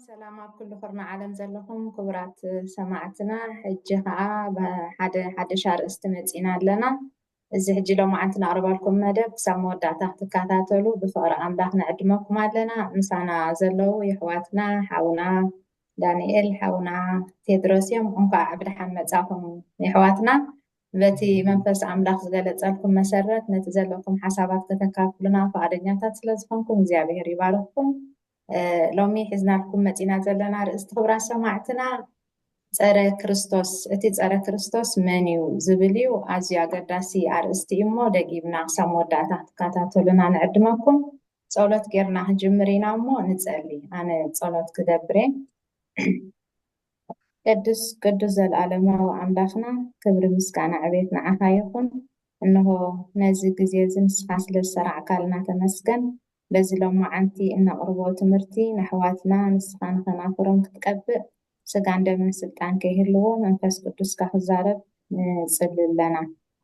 ሰላም ኣብ ኩሉ ኩርና ዓለም ዘለኹም ክቡራት ሰማዕትና ሕጂ ከዓ ሓደ ሓደሽ ኣርእስቲ መፂና ኣለና እዚ ሕጂ ሎማዓንቲ ነቕርበልኩም መደብ ክሳብ መወዳእታ ክትከታተሉ ብፍቕሪ ኣምላኽ ንዕድመኩም ኣለና ምሳና ዘለዉ የሕዋትና ሓውና ዳንኤል ሓውና ቴድሮስ እዮም እንኳዕ ብድሓን መፃኹም የሕዋትና በቲ መንፈስ ኣምላኽ ዝገለጸልኩም መሰረት ነቲ ዘለኩም ሓሳባት ከተካፍሉና ፍቓደኛታት ስለ ዝኾንኩም እግዚኣብሔር ይባርኽኩም። ሎሚ ሒዝናልኩም መጺና ዘለና ርእስቲ ክብራት ሰማዕትና ጸረ ክርስቶስ እቲ ጸረ ክርስቶስ መን እዩ ዝብል እዩ። ኣዝዩ ኣገዳሲ ኣርእስቲ እዩ እሞ ደጊምና ክሳብ መወዳእታ ክትከታተሉና ንዕድመኩም። ጸሎት ጌርና ክንጅምር ኢና እሞ ንጸሊ። ኣነ ጸሎት ክገብር እየ። ቅዱስ ቅዱስ ዘልኣለማዊ ኣምላኽና ክብሪ ምስጋና ዕቤት ንዓኻ ይኹን እንሆ ነዚ ግዜ እዚ ንስኻ ስለ ዝሰራዕካልና ተመስገን በዚ ሎማዓንቲ እነቅርቦ ትምህርቲ ነሕዋትና ንስኻ ንከናፍሮም ክትቀብእ ስጋን ደምን ስልጣን ከይህልዎ መንፈስ ቅዱስካ ክዛረብ ንጽሊ ኣለና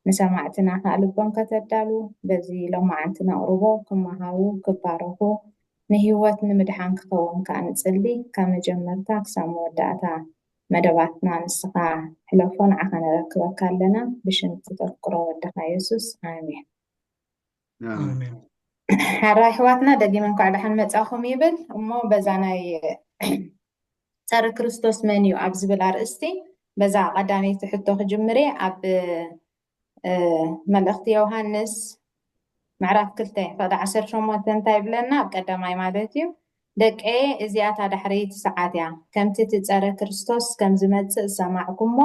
ንሰማዕትና ከኣ ልቦም ከተዳሉ በዚ ሎማዓንቲ ነቅርቦ ክማሃሩ ክባረኹ ንህይወት ንምድሓን ክኸውን ከኣ ንጽሊ ካብ መጀመርታ ክሳብ መወዳእታ መደባትና ንስኻ ሕለፎ ንዓኻ ነረክበካ ኣለና ብሽም እቲ ተፍቅሮ ወድኻ የሱስ ኣሜን። ኣሜን። ሓራ ኣሕዋትና ደጊመ እንኳዕ ደሓን መጻኹም ይብል እሞ በዛ ናይ ጸረ ክርስቶስ መን እዩ ኣብ ዝብል ኣርእስቲ በዛ ቀዳመይቲ ሕቶ ክጅምር እየ ኣብ መልእኽቲ ዮሃንስ ምዕራፍ ክልተ ፍቕዲ ዓሰርተ ሸሞንተ እንታይ ይብለና? ኣብ ቀዳማይ ማለት እዩ ደቀየ እዚኣ እታ ዳሕረይቲ ሰዓት እያ፣ ከምቲ እቲ ጸረ ክርስቶስ ከም ዝመጽእ ዝሰማዕኩሞ፣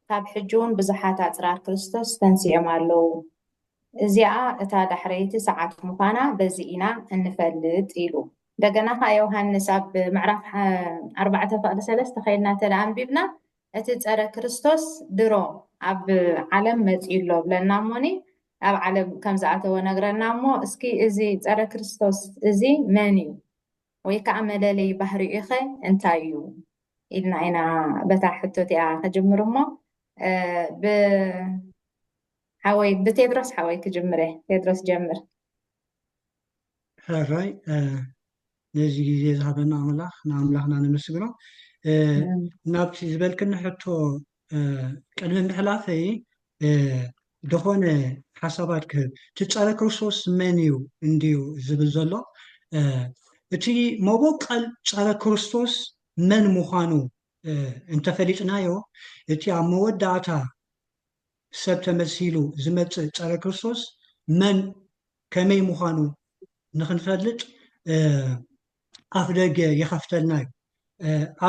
ካብ ሕጂ እውን ብዙሓት ኣጽራር ክርስቶስ ተንሲኦም ኣለዉ። እዚኣ እታ ዳሕረይቲ ሰዓት ምዃና በዚ ኢና እንፈልጥ ኢሉ። እንደገና ከኣ ዮሃንስ ኣብ ምዕራፍ ኣርባዕተ ፍቕዲ ሰለስተ ከይድና እንተ ኣንቢብና እቲ ጸረ ክርስቶስ ድሮ ኣብ ዓለም መጺኡ ኣሎ እብለና እሞኒ ኣብ ዓለም ከም ዝኣተወ ነግረና እሞ እስኪ እዚ ጸረ ክርስቶስ እዚ መን እዩ ወይ ከኣ መለለይ ባህሪኡኸ እንታይ እዩ ኢልና ኢና በታ ሕቶ እቲኣ ክጅምር እሞ ብ ሓወይ ብቴድሮስ ሓወይ ክጅምር እየ ቴድሮስ ጀምር ሕራይ ነዚ ግዜ ዝሃበና ኣምላኽ ንኣምላኽና ነመስግኖ ናብቲ ዝበልክኒ ሕቶ ቅድሚ ምሕላፈይ ዝኾነ ሓሳባት ክህብ እቲ ፀረ ክርስቶስ መን እዩ እንድዩ ዝብል ዘሎ እቲ መቦቀል ፀረ ክርስቶስ መን ምዃኑ እንተፈሊጥናዮ እቲ ኣብ መወዳእታ ሰብ ተመሲሉ ዝመፅእ ፀረ ክርስቶስ መን ከመይ ምዃኑ ንኽንፈልጥ ኣፍደገ ይኸፍተልና እዩ።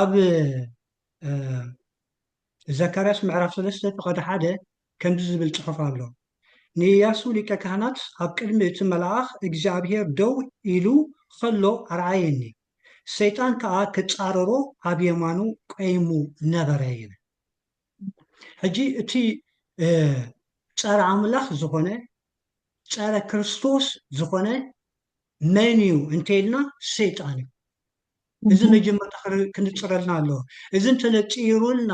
ኣብ ዘካርያስ ምዕራፍ ሰለስተ ፍቐዲ ሓደ ከምዚ ዝብል ጽሑፍ ኣሎ፣ ንእያሱ ሊቀ ካህናት ኣብ ቅድሚ እቲ መልኣኽ እግዚኣብሄር ደው ኢሉ ኸሎ ኣርኣየኒ፣ ሰይጣን ከኣ ክጻረሮ ኣብ የማኑ ቈይሙ ነበረ ይብል። ሕጂ እቲ ጸረ ኣምላኽ ዝኾነ ጸረ ክርስቶስ ዝኾነ መን እዩ እንተይልና ሰይጣን እዩ። እዚ መጀመርታ ክንጽረልና ኣለዎ። እዚ እንተነጺሩልና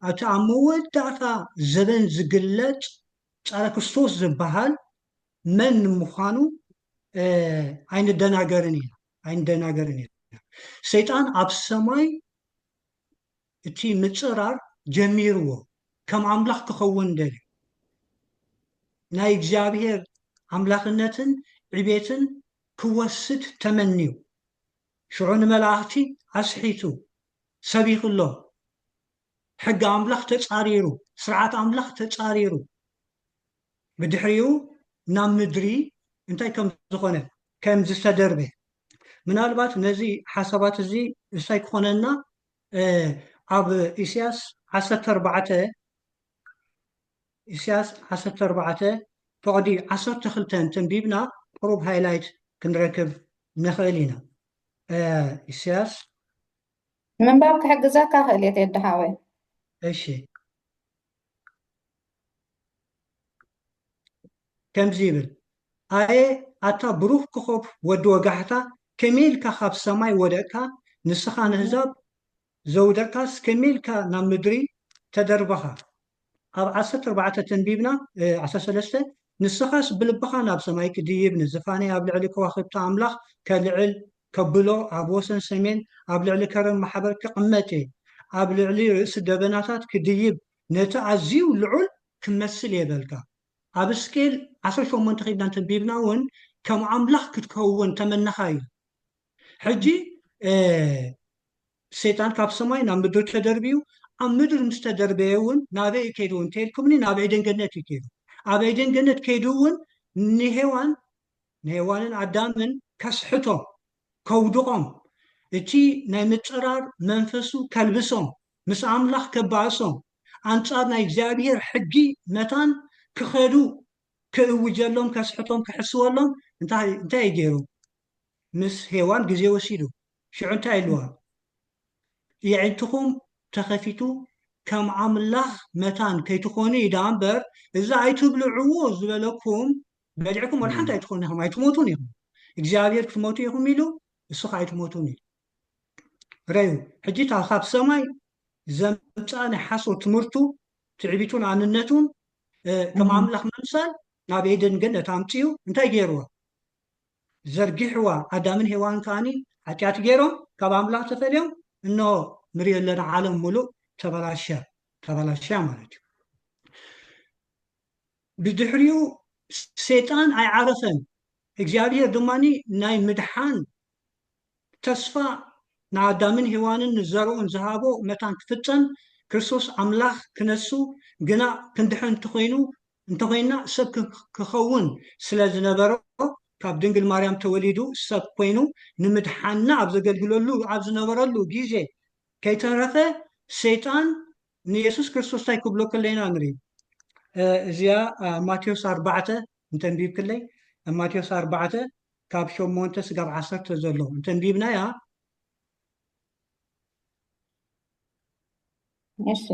ኣቲ ኣብ መወዳእታ ዘበን ዝግለጽ ጸረ ክርስቶስ ዝበሃል መን ምዃኑ ኣይንደናገርን ኢና ኣይንደናገርን ኢና። ሰይጣን ኣብ ሰማይ እቲ ምጽራር ጀሚርዎ ከም ኣምላኽ ክኸውን ደልዩ ናይ እግዚኣብሄር ኣምላኽነትን ዕቤትን ክወስድ ተመንዩ ሽዑ ንመላእኽቲ ኣስሒቱ ሰቢኽሎም ሕጊ ኣምላኽ ተጻሪሩ ስርዓት ኣምላኽ ተጻሪሩ ብድሕሪኡ ናብ ምድሪ እንታይ ከም ዝኾነ ከም ዝተደርበ ምናልባት ነዚ ሓሳባት እዚ እንታይ ክኾነና ኣብ ኢስያስ ዓሰርተ ኣርባዕተ ኢስያስ ዓሰርተ ኣርባዕተ ፍቕዲ ዓሰርተ ክልተ እንተንቢብና ቁሩብ ሃይላይት ክንረክብ ንኽእል ኢና። ኢስያስ። ንምንባብ ክሕግዘካ ክእል እየ ቴዲ ሓወይ። እሺ። ከምዚ ይብል፣ ኣየ ኣታ ብሩኽ ኮኾብ ወዲ ወጋሕታ ከመይ ኢልካ ካብ ሰማይ ወደቅካ ንስኻ ነህዛብ ዘውደቅካስ ከመይ ኢልካ ናብ ምድሪ ተደርበኻ ኣብ ዓሰርተ ኣርባዕተ ተንቢብና ዓሰርተ ሰለስተ ንስኻስ ብልብኻ ናብ ሰማይ ክድይብ ንዝፋነይ ኣብ ልዕሊ ከዋኽብቲ ኣምላኽ ከልዕል ከብሎ ኣብ ወሰን ሰሜን ኣብ ልዕሊ ከረን ማሕበር ክቕመጥ እየ፣ ኣብ ልዕሊ ርእሲ ደበናታት ክድይብ ነቲ ኣዝዩ ልዑል ክመስል እየ በልካ። ኣብ ሕዝቅኤል ዓሰርተ ሸሞንተ ኪድና እንተንቢብና ውን ከም ኣምላኽ ክትከውን ተመነኻ እዩ። ሕጂ ሰይጣን ካብ ሰማይ ናብ ምድሪ ተደርብዩ፣ ኣብ ምድሪ ምስ ተደርበየ ውን ናበይ እዩ ከይዱ እንተኢልኩምኒ ናብ ዔደን ገነት እዩ ከይዱ። ኣብ ዔደን ገነት ከይዱ ውን ንሄዋን ንሄዋንን ኣዳምን ከስሕቶም፣ ከውድቖም፣ እቲ ናይ ምጽራር መንፈሱ ከልብሶም፣ ምስ ኣምላኽ ከባእሶም፣ ኣንጻር ናይ እግዚኣብሄር ሕጊ መታን ክኸዱ ክእውጀሎም ከስሕቶም ክሕስወሎም እንታይ እንታይ እዩ ገይሩ? ምስ ሄዋን ግዜ ወሲዱ። ሽዑ እንታይ ኢልዋ? የዒንትኹም ተኸፊቱ ከም ኣምላኽ መታን ከይትኾኑ እዩ ደኣ እምበር እዚ ኣይትብልዕዎ ዝበለኩም በሊዕኩም ወላ ሓንቲ ኣይትኾኑ ኢኹም ኣይትሞቱን ኢኹም እግዚኣብሔር ክትሞቱ ኢኹም ኢሉ እሱ ከዓ ኣይትሞቱን ኢሉ ረዩ ሕጂ እታ ካብ ሰማይ ዘምፅኣ ናይ ሓሶት ትምህርቱ ትዕቢቱን ኣንነቱን ከም ኣምላኽ ምምሳል ናብ ኤደን ገነት ኣምፅኡ እንታይ ገይርዋ ዘርጊሕዋ ኣዳምን ሄዋን ከዓኒ ሓጢኣት ገይሮም ካብ ኣምላኽ ተፈልዮም እኖ ንሪኦ ኣለና ዓለም ሙሉእ ተበላሸ ተበላሸያ ማለት እዩ ብድሕሪኡ ሰይጣን ኣይዓረፈን፣ እግዚኣብሄር ድማ ናይ ምድሓን ተስፋ ንኣዳምን ሄዋንን ንዘርኡን ዝሃቦ መታን ክፍጸም፣ ክርስቶስ ኣምላኽ ክነሱ፣ ግና ክንድሕን እንተኾይኑ እንተኾይንና ሰብ ክኸውን ስለ ዝነበሮ ካብ ድንግል ማርያም ተወሊዱ ሰብ ኮይኑ ንምድሓንና ኣብ ዘገልግለሉ ኣብ ዝነበረሉ ግዜ ከይተረፈ ሰይጣን ንየሱስ ክርስቶስ እንታይ ክብሎ ከሎ ኢና ንርኢ እዚኣ ማቴዎስ ኣርባዕተ እንተንቢብክለይ ማቴዎስ ኣርባዕተ ካብ ሸሞንተ ስጋብ ዓሰርተ ዘሎ እንተንቢብናያ እሺ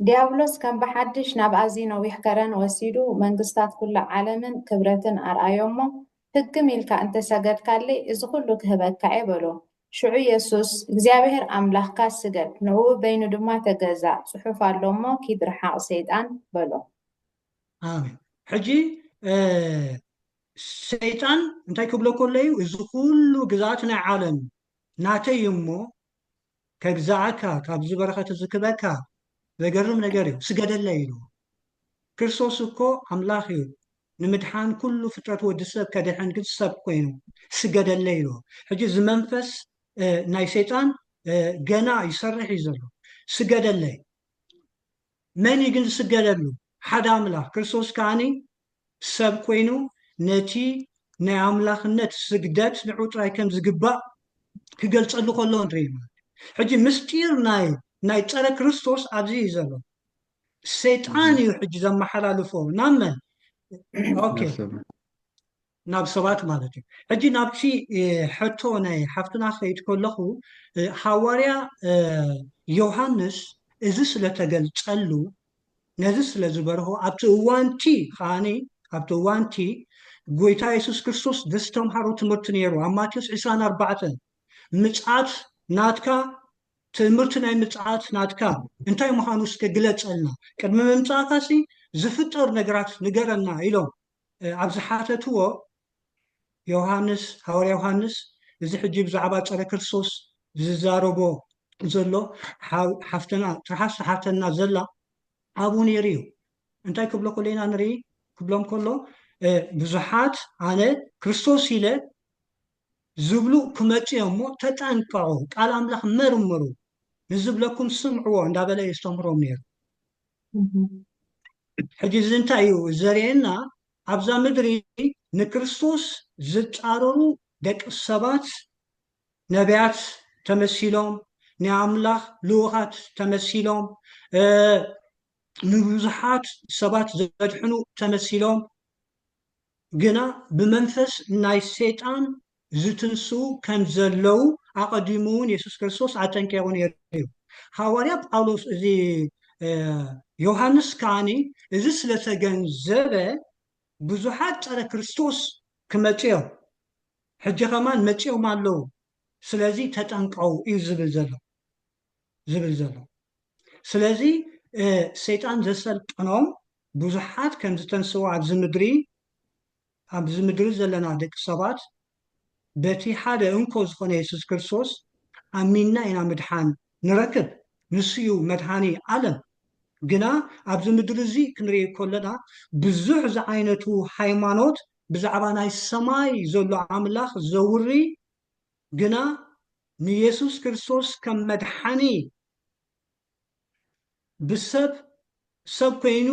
ዲያብሎስ ከም ብሓድሽ ናብ ኣዝዩ ነዊሕ ከረን ወሲዱ መንግስታት ኩሉ ዓለምን ክብረትን ኣርኣዮ'ሞ፣ ህግም ኢልካ እንተ ሰገድካለይ እዚ ኹሉ ክህበካ'የ በሎ። ሽዑ የሱስ፣ እግዚኣብሄር ኣምላኽካ ስገድ፣ ንእኡ በይኑ ድማ ተገዛእ፣ ጽሑፍ ኣሎ'ሞ፣ ኪድ ርሓቕ ሰይጣን፣ በሎ። ኣሜን። ሕጂ ሰይጣን እንታይ ክብሎ ከሎ'ዩ፣ እዚ ኹሉ ግዝኣት ናይ ዓለም ናተይ'ዩ'ሞ፣ ከግዝኣካ ካብዚ በረኸት እዚ ክበካ ዘገርም ነገር እዩ ስገደለይ ኢሉ ክርስቶስ እኮ ኣምላኽ እዩ ንምድሓን ኩሉ ፍጥረት ወዲ ሰብ ከድሕን ግን ሰብ ኮይኑ ስገደለይ ኢሉ ሕጂ እዚ መንፈስ ናይ ሰይጣን ገና ይሰርሕ እዩ ዘሎ ስገደለይ መን እዩ ግን ዝስገደሉ ሓደ ኣምላኽ ክርስቶስ ከዓኒ ሰብ ኮይኑ ነቲ ናይ ኣምላኽነት ስግደት ንዑ ጥራይ ከም ዝግባእ ክገልጸሉ ከሎ ንርኢ ማለት እዩ። ሕጂ ምስጢር ናይ ናይ ጸረ ክርስቶስ ኣብዚ እዩ ዘሎ። ሰይጣን እዩ ሕጂ ዘመሓላልፎ ናብ መን? ኦኬ ናብ ሰብ ናብ ሰባት ማለት እዩ። ሕጂ ናብቲ እ፣ ሕቶ ናይ ሓፍትና ክኸይድ ከለኹ እ፣ ሃዋርያ እ፣ ዮሃንስ እዚ ስለ ተገልጸሉ ነዚ ስለ ዝበርሆ ኣብቲ እዋንቲ ኸኣኒ ኣብቲ እዋንቲ ጎይታ የሱስ ክርስቶስ ዘስተምሃሮ ትምህርቲ ነይሩ ኣብ ማቴዎስ 20 4 ምጽኣት ናትካ ትምህርቲ ናይ ምጽኣት ናትካ እንታይ ምዃኑ እስከ ግለጸልና ቅድሚ ምምጻእካሲ ዝፍጠር ነገራት ንገረና ኢሎም ኣብ ዝሓተትዎ፣ ዮሃንስ፣ ሃዋርያ ዮሃንስ፣ እዚ ሕጂ ብዛዕባ ጸረ ክርስቶስ ዝዛረቦ ዘሎ ሓፍትና ትርሓስ ትሓተና ዘላ ኣብኡ ነይሩ እዩ። እንታይ ክብሎ ከሎ ኢና ንርኢ? ክብሎም ከሎ ብዙሓት ኣነ ክርስቶስ ኢለ ዝብሉ ክመጽ እዮም እሞ ተጠንቀዑ፣ ቃል ኣምላኽ መርምሩ፣ ንዝብለኩም ስምዕዎ እንዳበለ የስተምህሮም ነይሩ። ሕጂ እዚ እንታይ እዩ ዘርእየና? ኣብዛ ምድሪ ንክርስቶስ ዝጻረሩ ደቂ ሰባት ነብያት ተመሲሎም፣ ናይ ኣምላኽ ልኡኻት ተመሲሎም፣ ንብዙሓት ሰባት ዘድሕኑ ተመሲሎም፣ ግና ብመንፈስ ናይ ሰይጣን ዝትንስኡ ከም ዘለዉ ኣቐዲሙ እውን የሱስ ክርስቶስ ኣጠንቂቑ ነይሩ እዩ። ሃዋርያ ጳውሎስ እዚ ዮሃንስ ከዓኒ እዚ ስለ ተገንዘበ ብዙሓት ጸረ ክርስቶስ ክመጽኡ እዮም፣ ሕጂ ከማን መጺኦም ኣለዉ፣ ስለዚ ተጠንቀቑ እዩ ዝብል ዘሎ። ዝብል ዘሎ። ስለዚ ሰይጣን ዘሰልጠኖም ብዙሓት ከም ዝተንስኡ ኣብዚ ምድሪ ኣብዚ ምድሪ ዘለና ደቂ ሰባት በቲ ሓደ እንኮ ዝኾነ የሱስ ክርስቶስ ኣሚንና ኢና ምድሓን ንረክብ። ንሱ እዩ መድሃኒ ዓለም። ግና ኣብዚ ምድሪ እዚ ክንርኢ ከሎና ብዙሕ ዝዓይነቱ ሃይማኖት ብዛዕባ ናይ ሰማይ ዘሎ ኣምላኽ ዘውሪ ግና ንየሱስ ክርስቶስ ከም መድሓኒ ብሰብ ሰብ ኮይኑ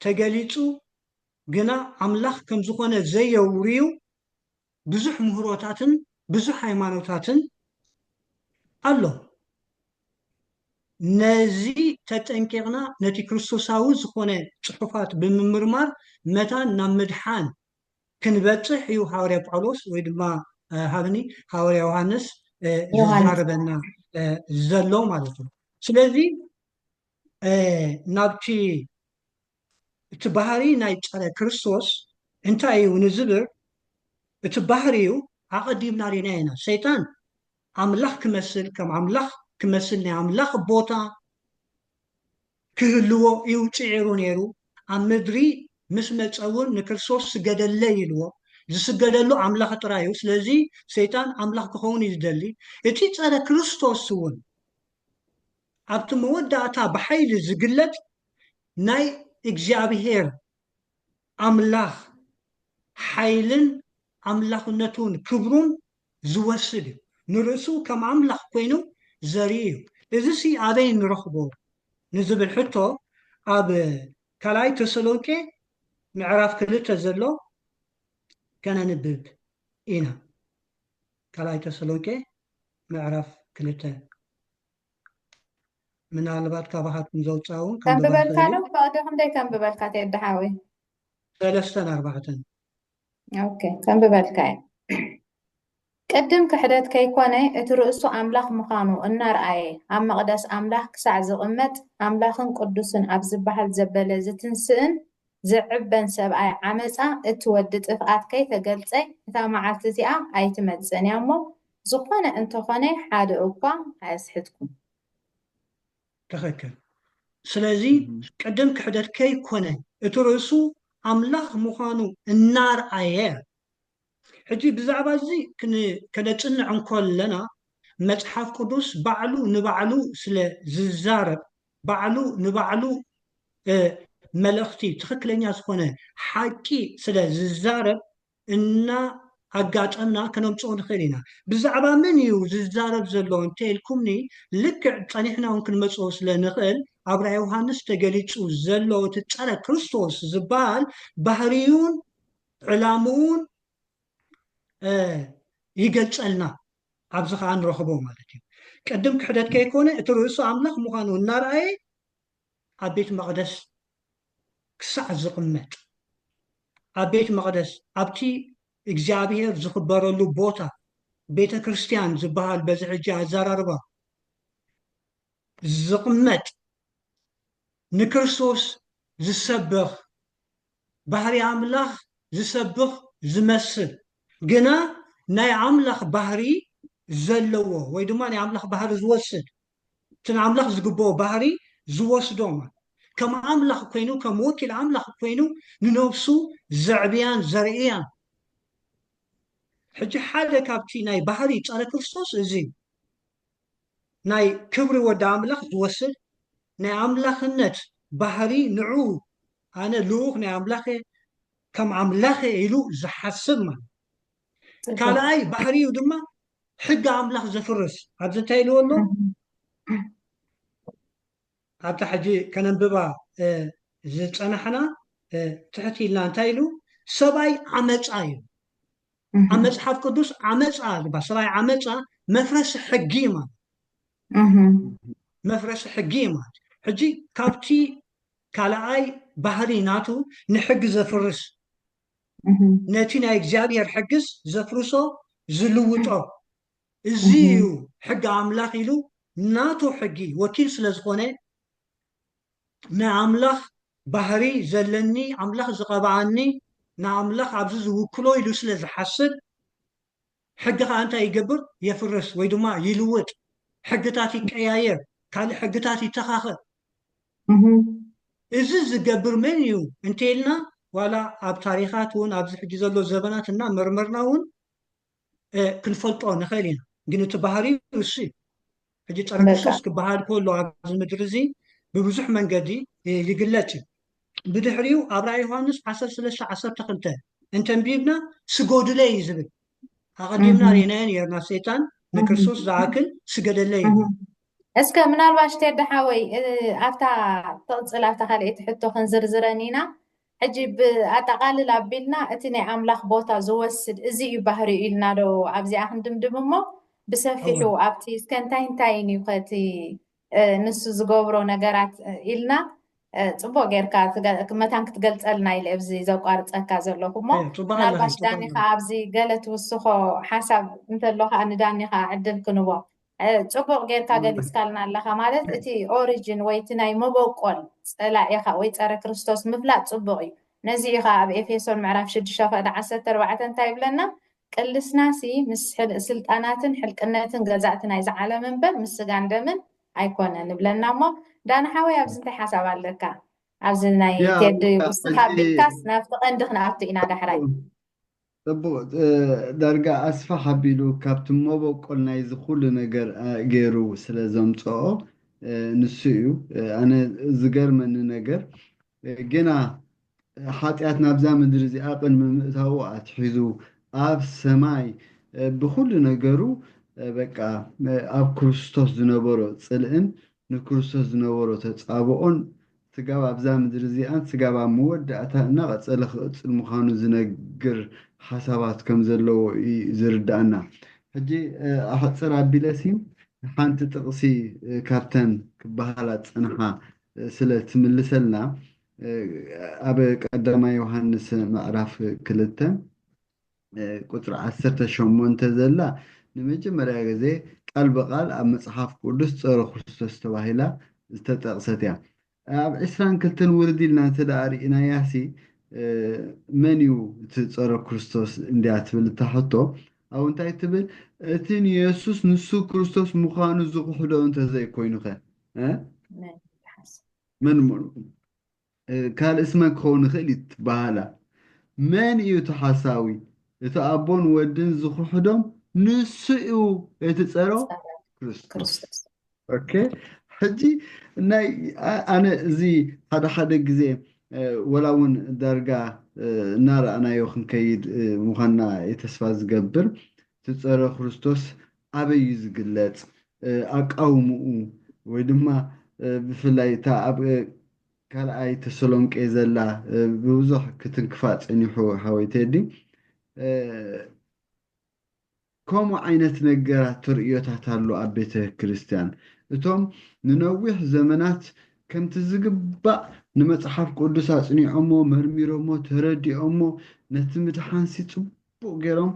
ተገሊጹ ግና ኣምላኽ ከም ዝኾነ ዘየውርዩ ብዙሕ ምህሮታትን ብዙሕ ሃይማኖታትን ኣሎ። ነዚ ተጠንቂቕና ነቲ ክርስቶሳዊ ዝኾነ ጽሑፋት ብምምርማር መታን ናብ ምድሓን ክንበጽሕ እዩ ሃዋርያ ጳውሎስ ወይ ድማ ሃብኒ ሃዋርያ ዮሃንስ ዝዛረበና ዘሎ ማለት እዩ ስለዚ ናብቲ እቲ ባህሪ ናይ ፀረ ክርስቶስ እንታይ እዩ ንዝብር እቲ ባህሪ እዩ ኣቐዲምና ሪና ኢና ሰይጣን ኣምላኽ ክመስል ከም ኣምላኽ ክመስል ናይ ኣምላኽ ቦታ ክህልዎ እዩ ጽዒሩ ነይሩ። ኣብ ምድሪ ምስ መጸ እውን ንክርስቶስ ስገደለይ ኢልዎ። ዝስገደሉ ኣምላኽ ጥራይ እዩ። ስለዚ ሰይጣን ኣምላኽ ክኸውን እዩ ዝደሊ። እቲ ጸረ ክርስቶስ እውን ኣብቲ መወዳእታ ብሓይሊ ዝግለጽ ናይ እግዚኣብሔር ኣምላኽ ሓይልን ኣምላኽነቱን ክብሩን ዚወስድ እዩ። ንርእሱ ከም ኣምላኽ ኰይኑ ዘርኢ እዩ። እዝሲ ኣበይ ንረኽቦ ንዚብል ሕቶ፣ ኣብ ካልኣይ ተሰሎንቄ ምዕራፍ ክልተ ዘሎ ከነንብብ ኢና። ካልኣይ ተሰሎንቄ ምዕራፍ ክልተ። ምናልባት ካባኻትኩም ዘውፅኣ እውን ከንብባ ከንብበልካ ይኽእል እዩ። ዶ ፈቕዲ ክንደይ ከንብበልካ ቴዲ ሓወይ ሰለስተን ኣርባዕተን ኦኬ ከንብበልካ እየ ቅድም ክሕደት ከይኮነ እቲ ርእሱ ኣምላኽ ምዃኑ እናርኣየ ኣብ መቕደስ ኣምላኽ ክሳዕ ዝቕመጥ ኣምላኽን ቅዱስን ኣብ ዝበሃል ዘበለ ዝትንስእን ዝዕበን ሰብኣይ ዓመፃ እቲ ወዲ ጥፍኣት ከይተገልፀ እታ መዓልቲ እዚኣ ኣይትመፅእን እያ እሞ ዝኾነ እንተኾነ ሓደ እኳ ኣየስሕትኩም ትኽክል ስለዚ ቅድም ክሕደት ከይኮነ እቲ ርእሱ ኣምላኽ ምዃኑ እናርኣየ ሕጂ ብዛዕባ እዚ ከነጽንዕ እንኮለና መጽሓፍ ቅዱስ ባዕሉ ንባዕሉ ስለ ዝዛረብ ባዕሉ ንባዕሉ መልእኽቲ ትኽክለኛ ዝኾነ ሓቂ ስለ ዝዛረብ እና ኣጋጠምና ከነምጽኦ ንኽእል ኢና። ብዛዕባ መን እዩ ዝዛረብ ዘሎ እንተ ኢልኩምኒ ልክዕ ጸኒሕና እውን ክንመጽኦ ስለ ንኽእል ኣብ ራእይ ዮሃንስ ተገሊጹ ዘሎ እቲ ጸረ ክርስቶስ ዝበሃል ባህርዩን ዕላምኡን ይገልጸልና ኣብዚ ከዓ ንረኽቦ ማለት እዩ። ቅድም ክሕደት ከይኮነ እቲ ርእሱ ኣምላኽ ምዃኑ እናረኣየ ኣብ ቤት መቕደስ ክሳዕ ዝቕመጥ፣ ኣብ ቤት መቕደስ፣ ኣብቲ እግዚኣብሄር ዝኽበረሉ ቦታ፣ ቤተ ክርስቲያን ዝበሃል በዚ ሕጂ ኣዘራርባ፣ ዝቕመጥ፣ ንክርስቶስ ዝሰብኽ፣ ባህርይ ኣምላኽ ዝሰብኽ ዝመስል፣ ግና ናይ ኣምላኽ ባህርይ ዘለዎ ወይ ድማ ናይ ኣምላኽ ባህርይ ዝወስድ፣ እቲ ንኣምላኽ ዝግብኦ ባህሪ ዝወስዶም ኣሉ። ከም ኣምላኽ ኰይኑ፣ ከም ወኪል ኣምላኽ ኰይኑ ንነብሱ ዘዕብያን ዘርእያን ኣሉ። ሕጂ ሓደ ካብቲ ናይ ባህሪ ጸረ ክርስቶስ እዚ እዩ። ናይ ክብሪ ወዲ ኣምላኽ ዝወስድ ናይ ኣምላኽነት ባህሪ ንዕኡ ኣነ ልኡኽ ናይ ኣምላኽ እየ፣ ከም ኣምላኽ እየ ኢሉ ዝሓስብ ማለት እዩ። ካልኣይ ባህሪኡ ድማ ሕጊ ኣምላኽ ዘፍርስ ኣብዚ እንታይ ኢልዎ ኣሎ ኣብታ ሕጂ ከነንብባ ዝፀናሕና ትሕት ኢልና እንታይ ኢሉ ሰብኣይ ዓመፃ እዩ ኣብ መፅሓፍ ቅዱስ ዓመፃ ዝባ ሰብኣይ ዓመፃ መፍረሲ ሕጊ እዩ ማለት መፍረሲ ሕጊ እዩ ማለት ሕጂ ካብቲ ካልኣይ ባህሪ ናቱ ንሕጊ ዘፍርስ ነቲ ናይ እግዚኣብሔር ሕግስ ዘፍርሶ ዝልውጦ እዚ እዩ ሕጊ ኣምላኽ ኢሉ ናቱ ሕጊ ወኪል ስለ ዝኾነ ናይ ኣምላኽ ባህሪ ዘለኒ ኣምላኽ ዝቐብኣኒ ንኣምላኽ ኣብዚ ዝውክሎ ኢሉ ስለ ዝሓስብ ሕጊ ከኣ እንታይ ይገብር የፍርስ ወይ ድማ ይልውጥ ሕግታት ይቀያየር ካልእ ሕግታት ይተኻኸል እዚ ዝገብር መን እዩ እንተይልና ዋላ ኣብ ታሪኻት ውን ኣብዚ ሕጂ ዘሎ ዘበናት እና መርመርና ውን ክንፈልጦ ንኽእል ኢና ግን እቲ ባህርይ እሱ እዩ። ሕጂ ጸረ ክርስቶስ ክበሃል ከሎ ኣብዚ ምድሪ እዚ ብብዙሕ መንገዲ ይግለጽ እዩ ብድሕሪኡ ኣብ ራእይ ዮሃንስ 13 12 እንተንቢብና ስጎዱለይ እዩ ዝብል ኣቐዲምና ሬናዮ ነርና ሰይጣን ንክርስቶስ ዝኣክል ስገደለይ እዩ እስከ ምናልባሽ ቴዲ ሓወይ ኣብታ ተቕፅል ኣብታ ካልኣይቲ ሕቶ ክንዝርዝረን ኢና ሕጂ ብኣጠቓልል ኣቢልና እቲ ናይ ኣምላኽ ቦታ ዝወስድ እዚ እዩ ባህሪኡ ኢልና ዶ ኣብዚኣ ክንድምድም እሞ ብሰፊሑ እወ። ኣብቲ እስከ እንታይ እንታይን እዩ ከ እቲ ንሱ ዝገብሮ ነገራት ኢልና ጽቡቕ ጌርካ መታን ክትገልጸልና ኢለ ኣብዚ ዘቋርጸካ ዘለኹ እሞ እየ ጽቡቕ ኣለኺ ምናልባሽ ጽቡቕ ዳኒ ኣለኺ ከኣ ኣብዚ ገለ ትውስኾ ሓሳብ እንተሎ ከኣ ንዳኒ ከኣ ዕድል ክንቦ ጽቡቕ ጌርካ ገሊጽካልና ኣለኻ ማለት እቲ ኦሪጅን ወይ እቲ ናይ መበቆል ጸላኢኻ ወይ ጸረ ክርስቶስ ምፍላጥ ጽቡቕ እዩ ነዚ እዩ ከኣ ኣብ ኤፌሶን ምዕራፍ ሽዱሽተ ክእዳ ዓሰርተ ኣርባዕተ እንታይ ይብለና ቅልስናሲ ምስ ስልጣናትን ሕልቅነትን ገዛእቲ ናይዚ ዓለም እምበር ምስ ስጋን ደምን ኣይኮነን ይብለና እሞ ዳን ሓወይ ኣብዚ እንታይ ሓሳብ ኣለካ ኣብዚ ናይ ቴዲ ውስኻ ቢልካስ ናብቲ ቀንዲ ክንኣቱ ኢና ዳሕራይ እብ ዳርጋ ኣስፍሕ ኣቢሉ ካብቲ መበቆል ናይዚ ኩሉ ነገር ገይሩ ስለ ዘምጸኦ ንሱ እዩ ኣነ ዝገርመኒ ነገር ጌና ሓጥያት ናብዛ ምድሪ እዚኣ ቅድሚ ምእታዉ ኣትሒዙ ኣብ ሰማይ ብኩሉ ነገሩ በቃ ኣብ ክርስቶስ ዝነበሮ ጽልእን ንክርስቶስ ዝነበሮ ተጻብኦን ስጋብ ኣብዛ ምድሪ እዚኣን ስጋብ ኣብ መወዳእታ እናቐጸለ ክቕጽል ምዃኑ ዝነግር ሓሳባት ከም ዘለዎ እዩ ዝርድኣና። ሕጂ ኣሕጽር ኣቢለ ሲ ሓንቲ ጥቕሲ ካብተን ክበሃላ ዝጸንሓ ስለ ትምልሰልና ኣብ ቀዳማይ ዮሃንስ ምዕራፍ ክልተ፣ ቁፅሪ ዓሰርተ ሸሞንተ ዘላ ንመጀመርያ ግዜ ቃል ብቓል ኣብ መፅሓፍ ቅዱስ ፀረ ክርስቶስ ተባሂላ ዝተጠቕሰት እያ። ኣብ ዕስራን ክልተን ውርድ ኢልና እንተደኣ ርኢናያሲ መን እዩ እቲ ፀረ ክርስቶስ እንድያ ትብል እታ ሕቶ ኣብ እንታይ ትብል እቲ ንየሱስ ንሱ ክርስቶስ ምዃኑ ዝኽሕዶ እንተዘይኮይኑኸ መን መን ካልእ ስመን ክኸውን ይኽእል እዩ ትበሃላ። መን እዩ እቲ ሓሳዊ? እቲ ኣቦን ወድን ዝኽሕዶም ንሱ እዩ እቲ ጸረ ክርስቶስ። ኦኬ ሕጂ ናይ ኣነ እዚ ሓደ ሓደ ግዜ ወላ እውን ዳርጋ እናረኣናዮ ክንከይድ ምዃንና ተስፋ ዝገብር እቲ ጸረ ክርስቶስ ኣበይ እዩ ዝግለጽ? ኣቃውምኡ ወይ ድማ ብፍላይ እታ ኣብ ካልኣይ ተሰሎንቄ ዘላ ብብዙሕ ክትንክፋ ጸኒሑ ሓወይ ቴዲ ከምኡ ዓይነት ነገራት ተርእዮታት ኣሎ ኣብ ቤተ ክርስቲያን እቶም ንነዊሕ ዘመናት ከምቲ ዝግባእ ንመጽሓፍ ቅዱስ ኣጽኒዖሞ መርሚሮሞ ተረዲኦሞ ነቲ ምድሓንሲ ጽቡቕ ጽቡቕ ገይሮም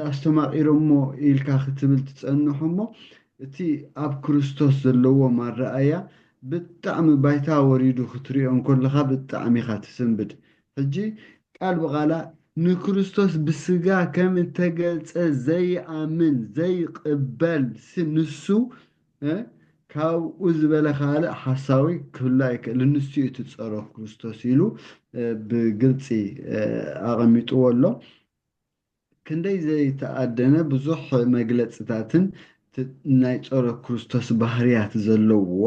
ኣስተማቒሮሞ ኢልካ ክትብል ትጸንሕ እሞ እቲ ኣብ ክርስቶስ ዘለዎም ኣረኣእያ ብጣዕሚ ባይታ ወሪዱ ክትሪኦ እንኮለኻ ብጣዕሚ ኢኻ ትስንብድ ሕጂ ቃል ብቓላ ንክርስቶስ ብስጋ ከም እተገልጸ ዘይኣምን ዘይቕበል ሲ ንሱ ካብኡ ዝበለ ካልእ ሓሳዊ ክህሉ ኣይክእልን፣ ንሱ እዩ እቲ ጸሮ ክርስቶስ ኢሉ ብግልጺ ኣቐሚጥዎ ኣሎ። ክንደይ ዘይተኣደነ ብዙሕ መግለጽታትን ናይ ጸሮ ክርስቶስ ባህርያት ዘለዎ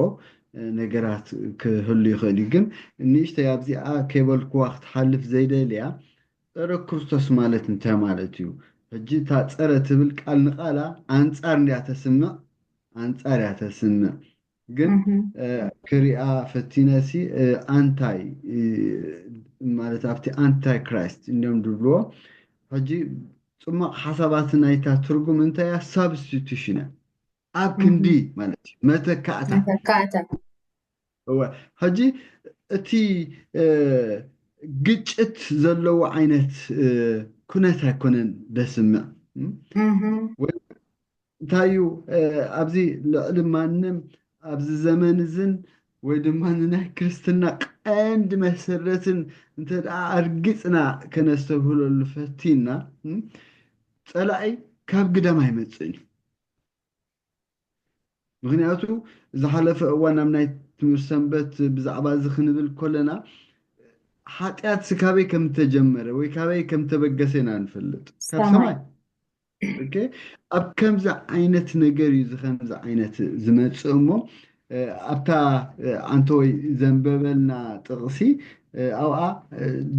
ነገራት ክህሉ ይኽእል እዩ። ግን ንእሽተይ ኣብዚኣ ከይበልክዋ ክትሓልፍ ዘይደልያ ጸረ ክርስቶስ ማለት እንታይ ማለት እዩ? ሕጂ እታ ጸረ ትብል ቃል ንቃላ ኣንጻር እንድያ ተስምዕ ኣንጻር እያ ተስምዕ ግን ክሪኣ ፈቲነ ሲ ኣንታይ ማለት ኣብቲ ኣንታይ ክራይስት እንድዮም ድብልዎ ሕጂ ጽሟቕ ሓሳባት ናይታ ትርጉም እንታይ እያ ሳብስቲቱሽን እያ ኣብ ክንዲ ማለት እዩ መተካእታ መተካእታ እወ ሕጂ እቲ ግጭት ዘለዎ ዓይነት ኩነት ኣይኮነን ደስምዕ ወይ እንታይ እዩ ኣብዚ ልዕሊ ማንም ኣብዚ ዘመን እዝን ወይ ድማ ንናይ ክርስትና ቀንዲ መሰረትን እንተ ደኣ ኣርጊጽና ከነስተብህለሉ ፈቲና ጸላኢ ካብ ግዳም ኣይመጽእን እዩ ምኽንያቱ ዝሓለፈ እዋን ኣብ ናይ ትምህርቲ ሰንበት ብዛዕባ እዚ ክንብል ኮለና ሓጢኣት ስካበይ ከም ተጀመረ ወይ ካበይ ከም ተበገሰ ኢና ንፈልጥ ካብ ሰማይ ኣብ ከምዚ ዓይነት ነገር እዩ እዚ ከምዚ ዓይነት ዝመፅእ እሞ ኣብታ ኣንተወይ ዘንበበልና ጥቕሲ ኣብኣ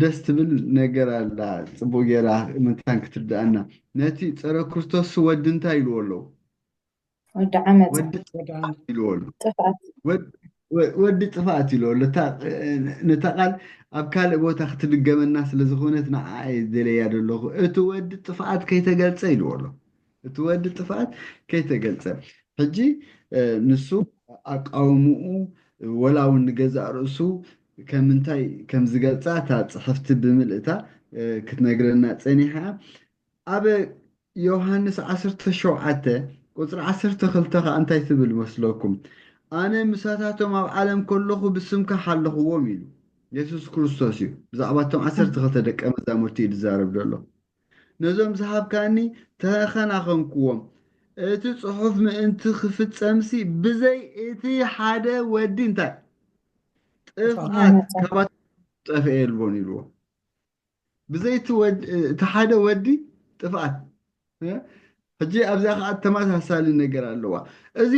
ደስ ትብል ነገር ኣላ ጽቡቕ ጌራ ምንታን ክትርድኣና ነቲ ጸረ ክርስቶስ ወዲ እንታይ ኢልዎ ኣለዉ ወዲ ዓመጽ ወዲ ጥፍኣት ኢልዎ ኣሎ ጥፍኣት ወድ- ወ- ወዲ ጥፍኣት ኢልዎ ኣሎ እታ ነታ ቃል ኣብ ካልእ ቦታ ክትድገመና ስለ ዝኾነት ንዓኣ እየ ዝደለያ ዘለኹ እቲ ወዲ ጥፍኣት ከይተገልጸ ኢልዎ ኣሎ እቲ ወዲ ጥፍኣት ከይተገልጸ ሕጂ ንሱ ኣቃውምኡ ወላ ውን ንገዛእ ርእሱ ከምንታይ ከም ዝገልጻ እታ ጽሕፍቲ ብምልእታ ክትነግረና ጸኒሓ ኣብ ዮውሃንስ ዓሰርተ ሸውዓተ ቁጽሪ ዓሰርተ ክልተ ከኣ እንታይ ትብል መስለኩም ኣነ ምሳታቶም ኣብ ዓለም ከለኹ ብስምካ ሓለኽዎም ኢሉ የሱስ ክርስቶስ እዩ ብዛዕባ እቶም ዓሰርተ ክልተ ደቀ መዛሙርቲ እዩ ዝዛረብ ዘሎ ነዞም ዝሃብካኒ ተኸናኸንኩዎም። እቲ ጽሑፍ ምእንቲ ክፍጸምሲ ብዘይ እቲ ሓደ ወዲ እንታይ ጥፍኣት ካባቶም ዝጠፍኤ የልቦን ኢልዎ። ብዘይ እቲ ሓደ ወዲ ጥፍኣት ሕጂ ኣብዚኣ ከኣ ተመሳሳሊ ነገር ኣለዋ። እዚ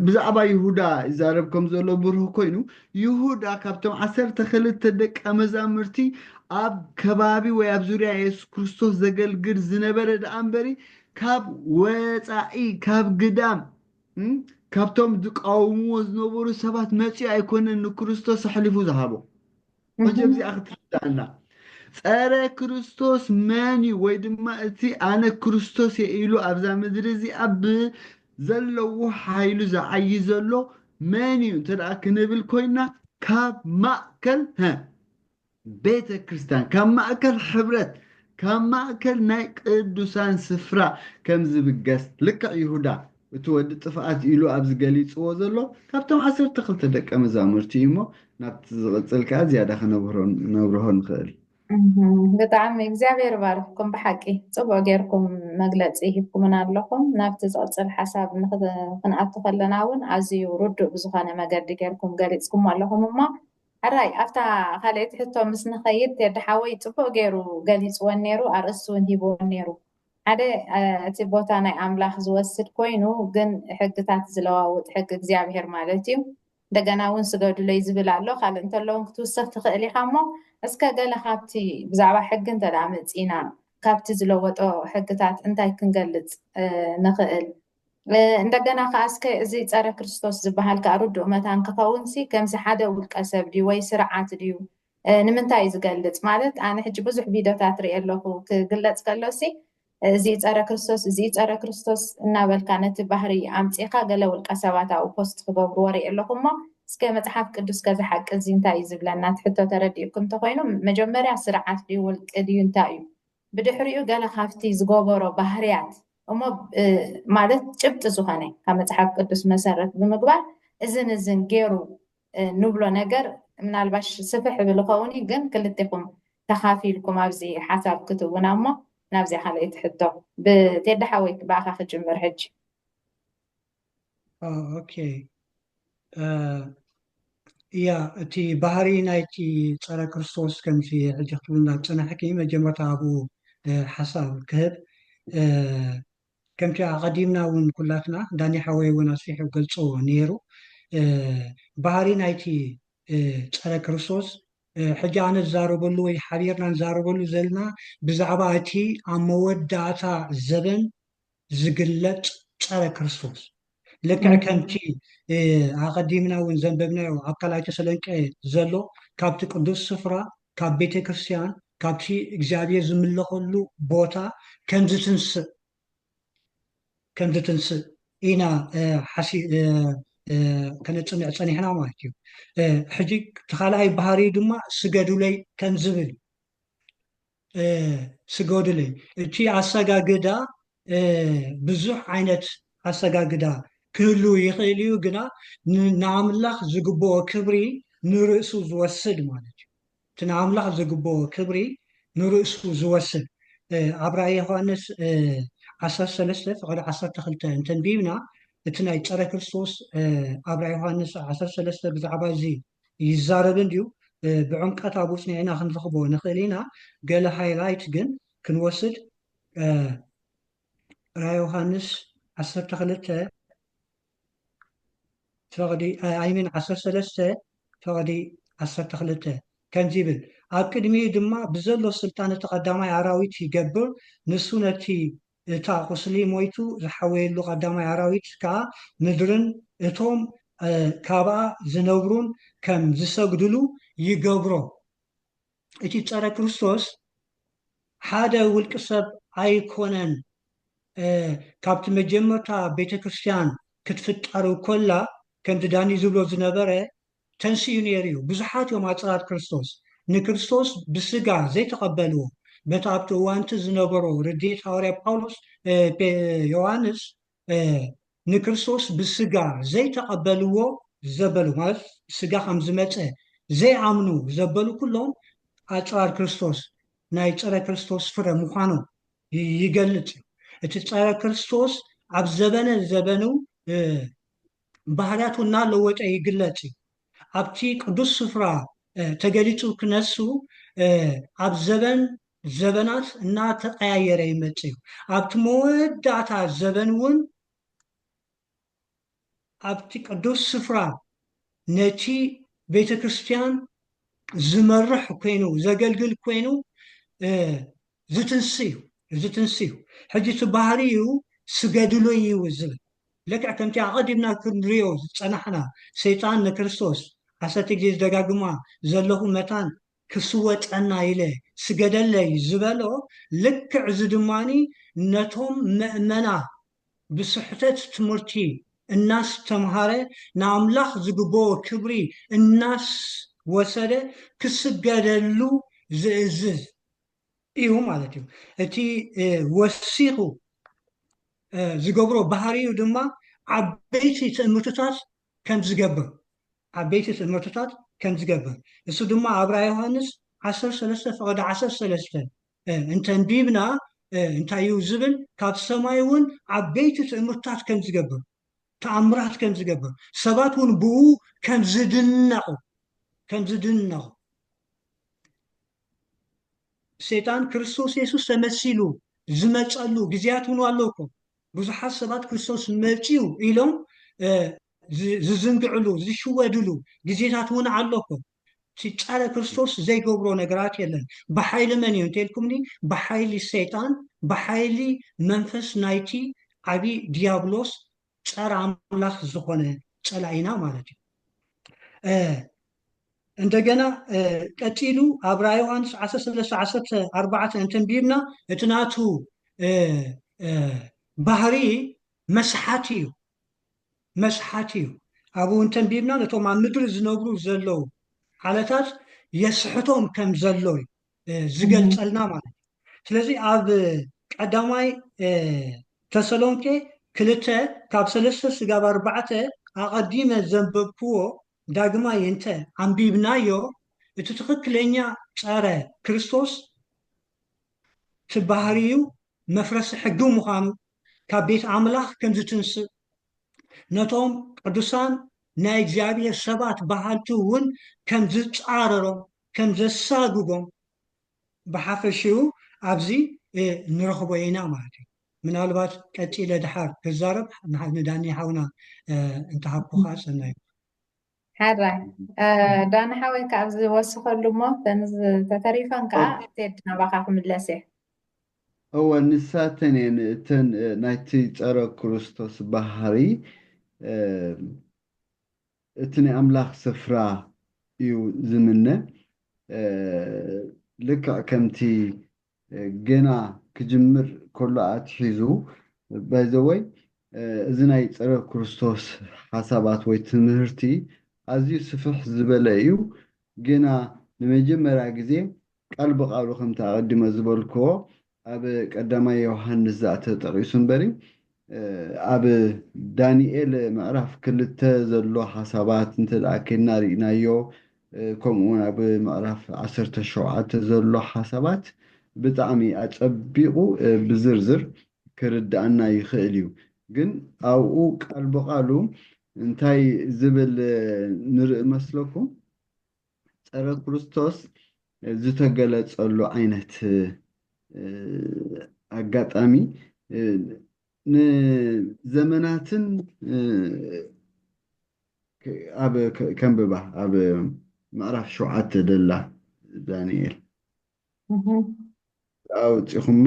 ብዛዕባ ይሁዳ ይዛረብ ከም ዘሎ ብሩህ ኮይኑ፣ ይሁዳ ካብቶም ዓሰርተ ክልተ ደቀ መዛሙርቲ ኣብ ከባቢ ወይ ኣብ ዙርያ የሱስ ክርስቶስ ዘገልግል ዝነበረ ደኣ እምበሪ ካብ ወጻኢ ካብ ግዳም ካብቶም ዝቃወምዎ ዝነበሩ ሰባት መጺኡ ኣይኮነን ንክርስቶስ ኣሕሊፉ ዝሃቦ። ወጀብ እዚኣ ክትርዳኣና ጸረ ክርስቶስ መን እዩ ወይ ድማ እቲ ኣነ ክርስቶስ እየ ኢሉ ኣብዛ ምድሪ እዚኣ ብዘለዎ ሓይሉ ዝዓይ ዘሎ መን እዩ እንተ ደኣ ክንብል ኮይና ካብ ማእከል ሀ ቤተ ክርስቲያን ካብ ማእከል ሕብረት ካብ ማእከል ናይ ቅዱሳን ስፍራ ከም ዝብገስ ልክዕ ይሁዳ እቲ ወዲ ጥፍኣት ኢሉ ኣብዚ ገሊጽዎ ዘሎ ካብቶም ዓሰርተ ክልተ ደቀ መዛሙርቲ እዩ እሞ ናብቲ ዝቕጽል ከኣ ዝያዳ ክነብርሆ ንኽእል። ብጣዕሚ እግዚኣብሔር ይባርኽኩም ብሓቂ ጽቡቅ ጌርኩም መግለጺ ሂብኩምና ኣለኹም ናብቲ ዝቅጽል ሓሳብ ክንኣቱ ከለና ውን ኣዝዩ ርዱእ ብዝኾነ መገዲ ጌርኩም ገሊጽኩሞ ኣለኹም እሞ ሕራይ ኣብታ ካልኣይቲ ሕቶ ምስ ንኸይድ ቴዲ ሓወይ ጽቡቅ ጌሩ ገሊጽወን ኔሩ ኣርእስቲ ውን ሂብወን ኔሩ ሓደ እቲ ቦታ ናይ ኣምላኽ ዝወስድ ኮይኑ ግን ሕግታት ዝለዋውጥ ሕጊ እግዚኣብሔር ማለት እዩ እንደገና እውን ስገዱለይ ዝብል ኣሎ ካልእ እንተለውን ክትውስኽ ትኽእል ኢኻ እሞ እስከ ገለ ካብቲ ብዛዕባ ሕጊ እንተ መፂና ካብቲ ዝለወጦ ሕግታት እንታይ ክንገልፅ ንኽእል እንደገና ከዓ እስከ እዚ ፀረ ክርስቶስ ዝበሃል ከዓ ርዱእ መታን ክኸውንሲ ከምዚ ሓደ ውልቀ ሰብ ድዩ ወይ ስርዓት ድዩ ንምንታይ እዩ ዝገልጽ ማለት ኣነ ሕጂ ብዙሕ ቪድዮታት ሪኤ ኣለኹ ክግለጽ ከሎሲ እዚ ጸረ ክርስቶስ እዚ ጸረ ክርስቶስ እናበልካ ነቲ ባህሪ ኣምጺኻ ገለ ውልቀ ሰባት ኣብኡ ፖስት ክገብርዎ ሪኤ ኣለኹ እሞ እስከ መጽሓፍ ቅዱስ ከዚ ሓቂ እዚ እንታይ እዩ ዝብለና እቲ ሕቶ ተረዲኡኩም እንተኾይኑ መጀመርያ ስርዓት ድዩ ውልቂ ድዩ እንታይ እዩ ብድሕሪኡ ገለ ካብቲ ዝገበሮ ባህርያት እሞ ማለት ጭብጢ ዝኾነ ካብ መጽሓፍ ቅዱስ መሰረት ብምግባር እዝን እዝን ገይሩ ንብሎ ነገር ምናልባሽ ስፍሕ ይብል ይኸውን እዩ ግን ክልቴኹም ተኻፊልኩም ኣብዚ ሓሳብ ክትቡና እሞ ናብዚኣ ካልኣይቲ ሕቶ ብቴዲ ሓወይ ብኣኻ ክጅምር ሕጂ ኦኬ እያ እቲ ባህሪ ናይቲ ፀረ ክርስቶስ ከምዚ ሕጂ ክትብልና ዝፀናሕኪ መጀመርታ ኣብኡ ሓሳብ ክህብ ከምቲ ኣቐዲምና እውን ኩላትና ዳኒ ሓወይ እውን ኣስፊሑ ገልጹ ነይሩ ባህሪ ናይቲ ጸረ ክርስቶስ ሕጂ ኣነ ዝዛረበሉ ወይ ሓቢርና ንዛረበሉ ዘለና ብዛዕባ እቲ ኣብ መወዳእታ ዘበን ዝግለጽ ጸረ ክርስቶስ ልክዕ ከምቲ ኣቐዲምና እውን ዘንበብናዮ ኣብ ካልኣይ ተሰሎንቄ ዘሎ ካብቲ ቅዱስ ስፍራ ካብ ቤተ ክርስቲያን ካብቲ እግዚኣብሔር ዝምለኸሉ ቦታ ከምዝትንስእ ከምዝትንስእ ኢና ከነፅንዕ ፀኒሕና ማለት እዩ ሕጂ እቲ ካልኣይ ባህሪ ድማ ስገዱለይ ከምዝብል ስገዱለይ እቲ ኣሰጋግዳ ብዙሕ ዓይነት ኣሰጋግዳ ክህልው ይኽእል እዩ ግና ንኣምላኽ ዝግብኦ ክብሪ ንርእሱ ዝወስድ ማለት እዩ እቲ ንኣምላኽ ዝግብኦ ክብሪ ንርእሱ ዝወስድ ኣብ ራእይ ዮሃንስ ዓሰርተ ሰለስተ ፍቕዲ ዓሰርተ ክልተ እንተንቢብና እቲ ናይ ፀረ ክርስቶስ ኣብ ራእይ ዮሃንስ ዓሰርተ ሰለስተ ብዛዕባ እዚ ይዛረብ እንድዩ ብዕምቀት ኣብ ውጽንዒና ክንረኽቦ ንኽእል ኢና ገለ ሃይላይት ግን ክንወስድ ራእየ ዮሃንስ ዓሰርተ ክልተ ፈቕዲ ኣይሚን ዓሰርተ ሰለስተ ፈቕዲ ዓሰርተ ክልተ ከምዚ ይብል ኣብ ቅድሚኡ ድማ ብዘሎ ስልጣን እቲ ቀዳማይ ኣራዊት ይገብር ንሱ ነቲ እታ ቁስሊ ሞይቱ ዝሓወየሉ ቀዳማይ ኣራዊት ከኣ ምድርን እቶም ካብኣ ዝነብሩን ከም ዝሰግድሉ ይገብሮ። እቲ ጸረ ክርስቶስ ሓደ ውልቂ ሰብ ኣይኮነን ካብቲ መጀመርታ ቤተክርስትያን ክትፍጠር ኮላ ከምቲ ዳኒ ዝብሎ ዝነበረ ተንሲኡ ነይሩ እዩ። ብዙሓት እዮም ኣጽራር ክርስቶስ። ንክርስቶስ ብስጋ ዘይተቐበልዎ በቲ ኣብቲ እዋንቲ ዝነበሮ ርድኢት ሃዋርያ ጳውሎስ ዮሃንስ ንክርስቶስ ብስጋ ዘይተቐበልዎ ዘበሉ ማለት ስጋ ከም ዝመጸ ዘይኣምኑ ዘበሉ ኩሎም ኣጽራር ክርስቶስ ናይ ጸረ ክርስቶስ ፍረ ምዃኖም ይገልጽ እዩ። እቲ ጸረ ክርስቶስ ኣብ ዘበነ ዘበኑ ባህርያቱ እናለወጠ ይግለጽ እዩ። ኣብቲ ቅዱስ ስፍራ ተገሊጹ ክነሱ ኣብ ዘበን ዘበናት እናተቐያየረ ይመጽእ እዩ። ኣብቲ መወዳእታ ዘበን እውን ኣብቲ ቅዱስ ስፍራ ነቲ ቤተ ክርስቲያን ዝመርሕ ኮይኑ ዘገልግል ኮይኑ እዚ ትንሱ እዩ እዚ ትንሱ እዩ ሕጂ እቲ ባህሪኡ ስገድሉ እዩ ዝብል ልክዕ ከምቲ ኣቐዲምና ክንሪኦ ዝጸናሕና ሰይጣን ንክርስቶስ ዓሰርተ ግዜ ዝደጋግማ ዘለኹ መታን ክስወጠና ኢለ ስገደለይ ዝበሎ ልክዕ እዚ ድማ ነቶም መእመና ብስሕተት ትምህርቲ እናስተምሃረ ንኣምላኽ ዝግበኦ ክብሪ እናስወሰደ ክስገደሉ ዝእዝዝ እዩ ማለት እዩ እቲ ወሲኹ ዝገብሮ ባህሪኡ ድማ ዓበይቲ ትእምርትታት ከም ዝገብር ዓበይቲ ትእምርትታት ከም ዝገብር እሱ ድማ ኣብ ራእይ ዮሃንስ 13 ፈቐዲ 13 እንተንቢብና እንታይ እዩ ዝብል ካብ ሰማይ እውን ዓበይቲ ትእምርትታት ከም ዝገብር ተኣምራት ከም ዝገብር ሰባት እውን ብኡ ከም ዝድነቑ ከም ዝድነቑ ሰይጣን ክርስቶስ የሱስ ተመሲሉ ዝመጸሉ ግዜያት እውን ኣሎ እኮ ብዙሓት ሰባት ክርስቶስ መጺኡ ኢሎም ዝዝንግዕሉ ዝሽወድሉ ግዜታት እውን ኣሎ እኮ እቲ ጸረ ክርስቶስ ዘይገብሮ ነገራት የለን ብሓይሊ መን እዩ እንተልኩምኒ ብሓይሊ ሰይጣን ብሓይሊ መንፈስ ናይቲ ዓብዪ ዲያብሎስ ጸረ ኣምላኽ ዝኾነ ጸላኢና ማለት እዩ። እንደገና ቀጺሉ ኣብ ራእይ ዮሃንስ 13:14 እንተንቢብና እቲ ናቱ ባህሪ መስሓቲ እዩ መስሓቲ እዩ ኣብኡ እንተንቢብና ነቶም ኣብ ምድሪ ዝነብሩ ዘለዉ ዓለታት የስሕቶም ከም ዘሎ እዩ ዝገልጸልና ማለት እዩ ስለዚ ኣብ ቀዳማይ ተሰሎንቄ ክልተ ካብ ሰለስተ ስጋብ ኣርባዕተ ኣቐዲመ ዘንበብክዎ ዳግማይ እንተ ኣንቢብናዮ እቲ ትኽክለኛ ጸረ ክርስቶስ እቲ ባህሪዩ መፍረሲ ሕጊ ምዃኑ ካብ ቤት ኣምላኽ ከም ዝትንስእ ነቶም ቅዱሳን ናይ እግዚኣብሔር ሰባት በሃልቲ እውን ከም ዝጻረሮም ከም ዘሳጉጎም ብሓፈሽኡ ኣብዚ ንረኽቦ ኢና ማለት እዩ። ምናልባት ቀጺለ ድሓር ክዛረብ ንዳኒ ሓውና እንተሃብኩኻ ሰናይ ምኾነ። ሕራይ ዳኒ ሓወይ ክኣ ዝወስኸሉ እሞ እተን ዝተተሪፋን ክኣ ቴዲ ናባኻ ክምለስ እየ። እወ ንሳተን እየን እተን ናይቲ ጸረ ክርስቶስ ባህሪ። እቲ ናይ ኣምላኽ ስፍራ እዩ ዝምነ። ልክዕ ከምቲ ገና ክጅምር ከሎ ኣትሒዙ ባይ ዘ ወይ እዚ ናይ ጸረ ክርስቶስ ሓሳባት ወይ ትምህርቲ ኣዝዩ ስፍሕ ዝበለ እዩ። ገና ንመጀመርያ ግዜ ቃል ብቃሉ ከምቲ ኣቀዲመ ዝበልክዎ ኣብ ቀዳማይ ዮሃንስ ዛእ ተጠቒሱ እምበር እዩ። ኣብ ዳንኤል ምዕራፍ ክልተ ዘሎ ሓሳባት እንተ ደኣ ኬድና ርኢናዮ ከምኡ ውን ኣብ ምዕራፍ ዓሰርተ ሸውዓተ ዘሎ ሓሳባት ብጣዕሚ ኣጸቢቑ ብዝርዝር ክርድኣና ይኽእል እዩ። ግን ኣብኡ ቃል ብቓሉ እንታይ ዝብል ንርኢ መስለኩም? ፀረ ክርስቶስ ዝተገለፀሉ ዓይነት ኣጋጣሚ ንዘመናትን ኣብ ከንብባ ኣብ ምዕራፍ ሸውዓተ ደላ ዳንኤል ኣውፂኹማ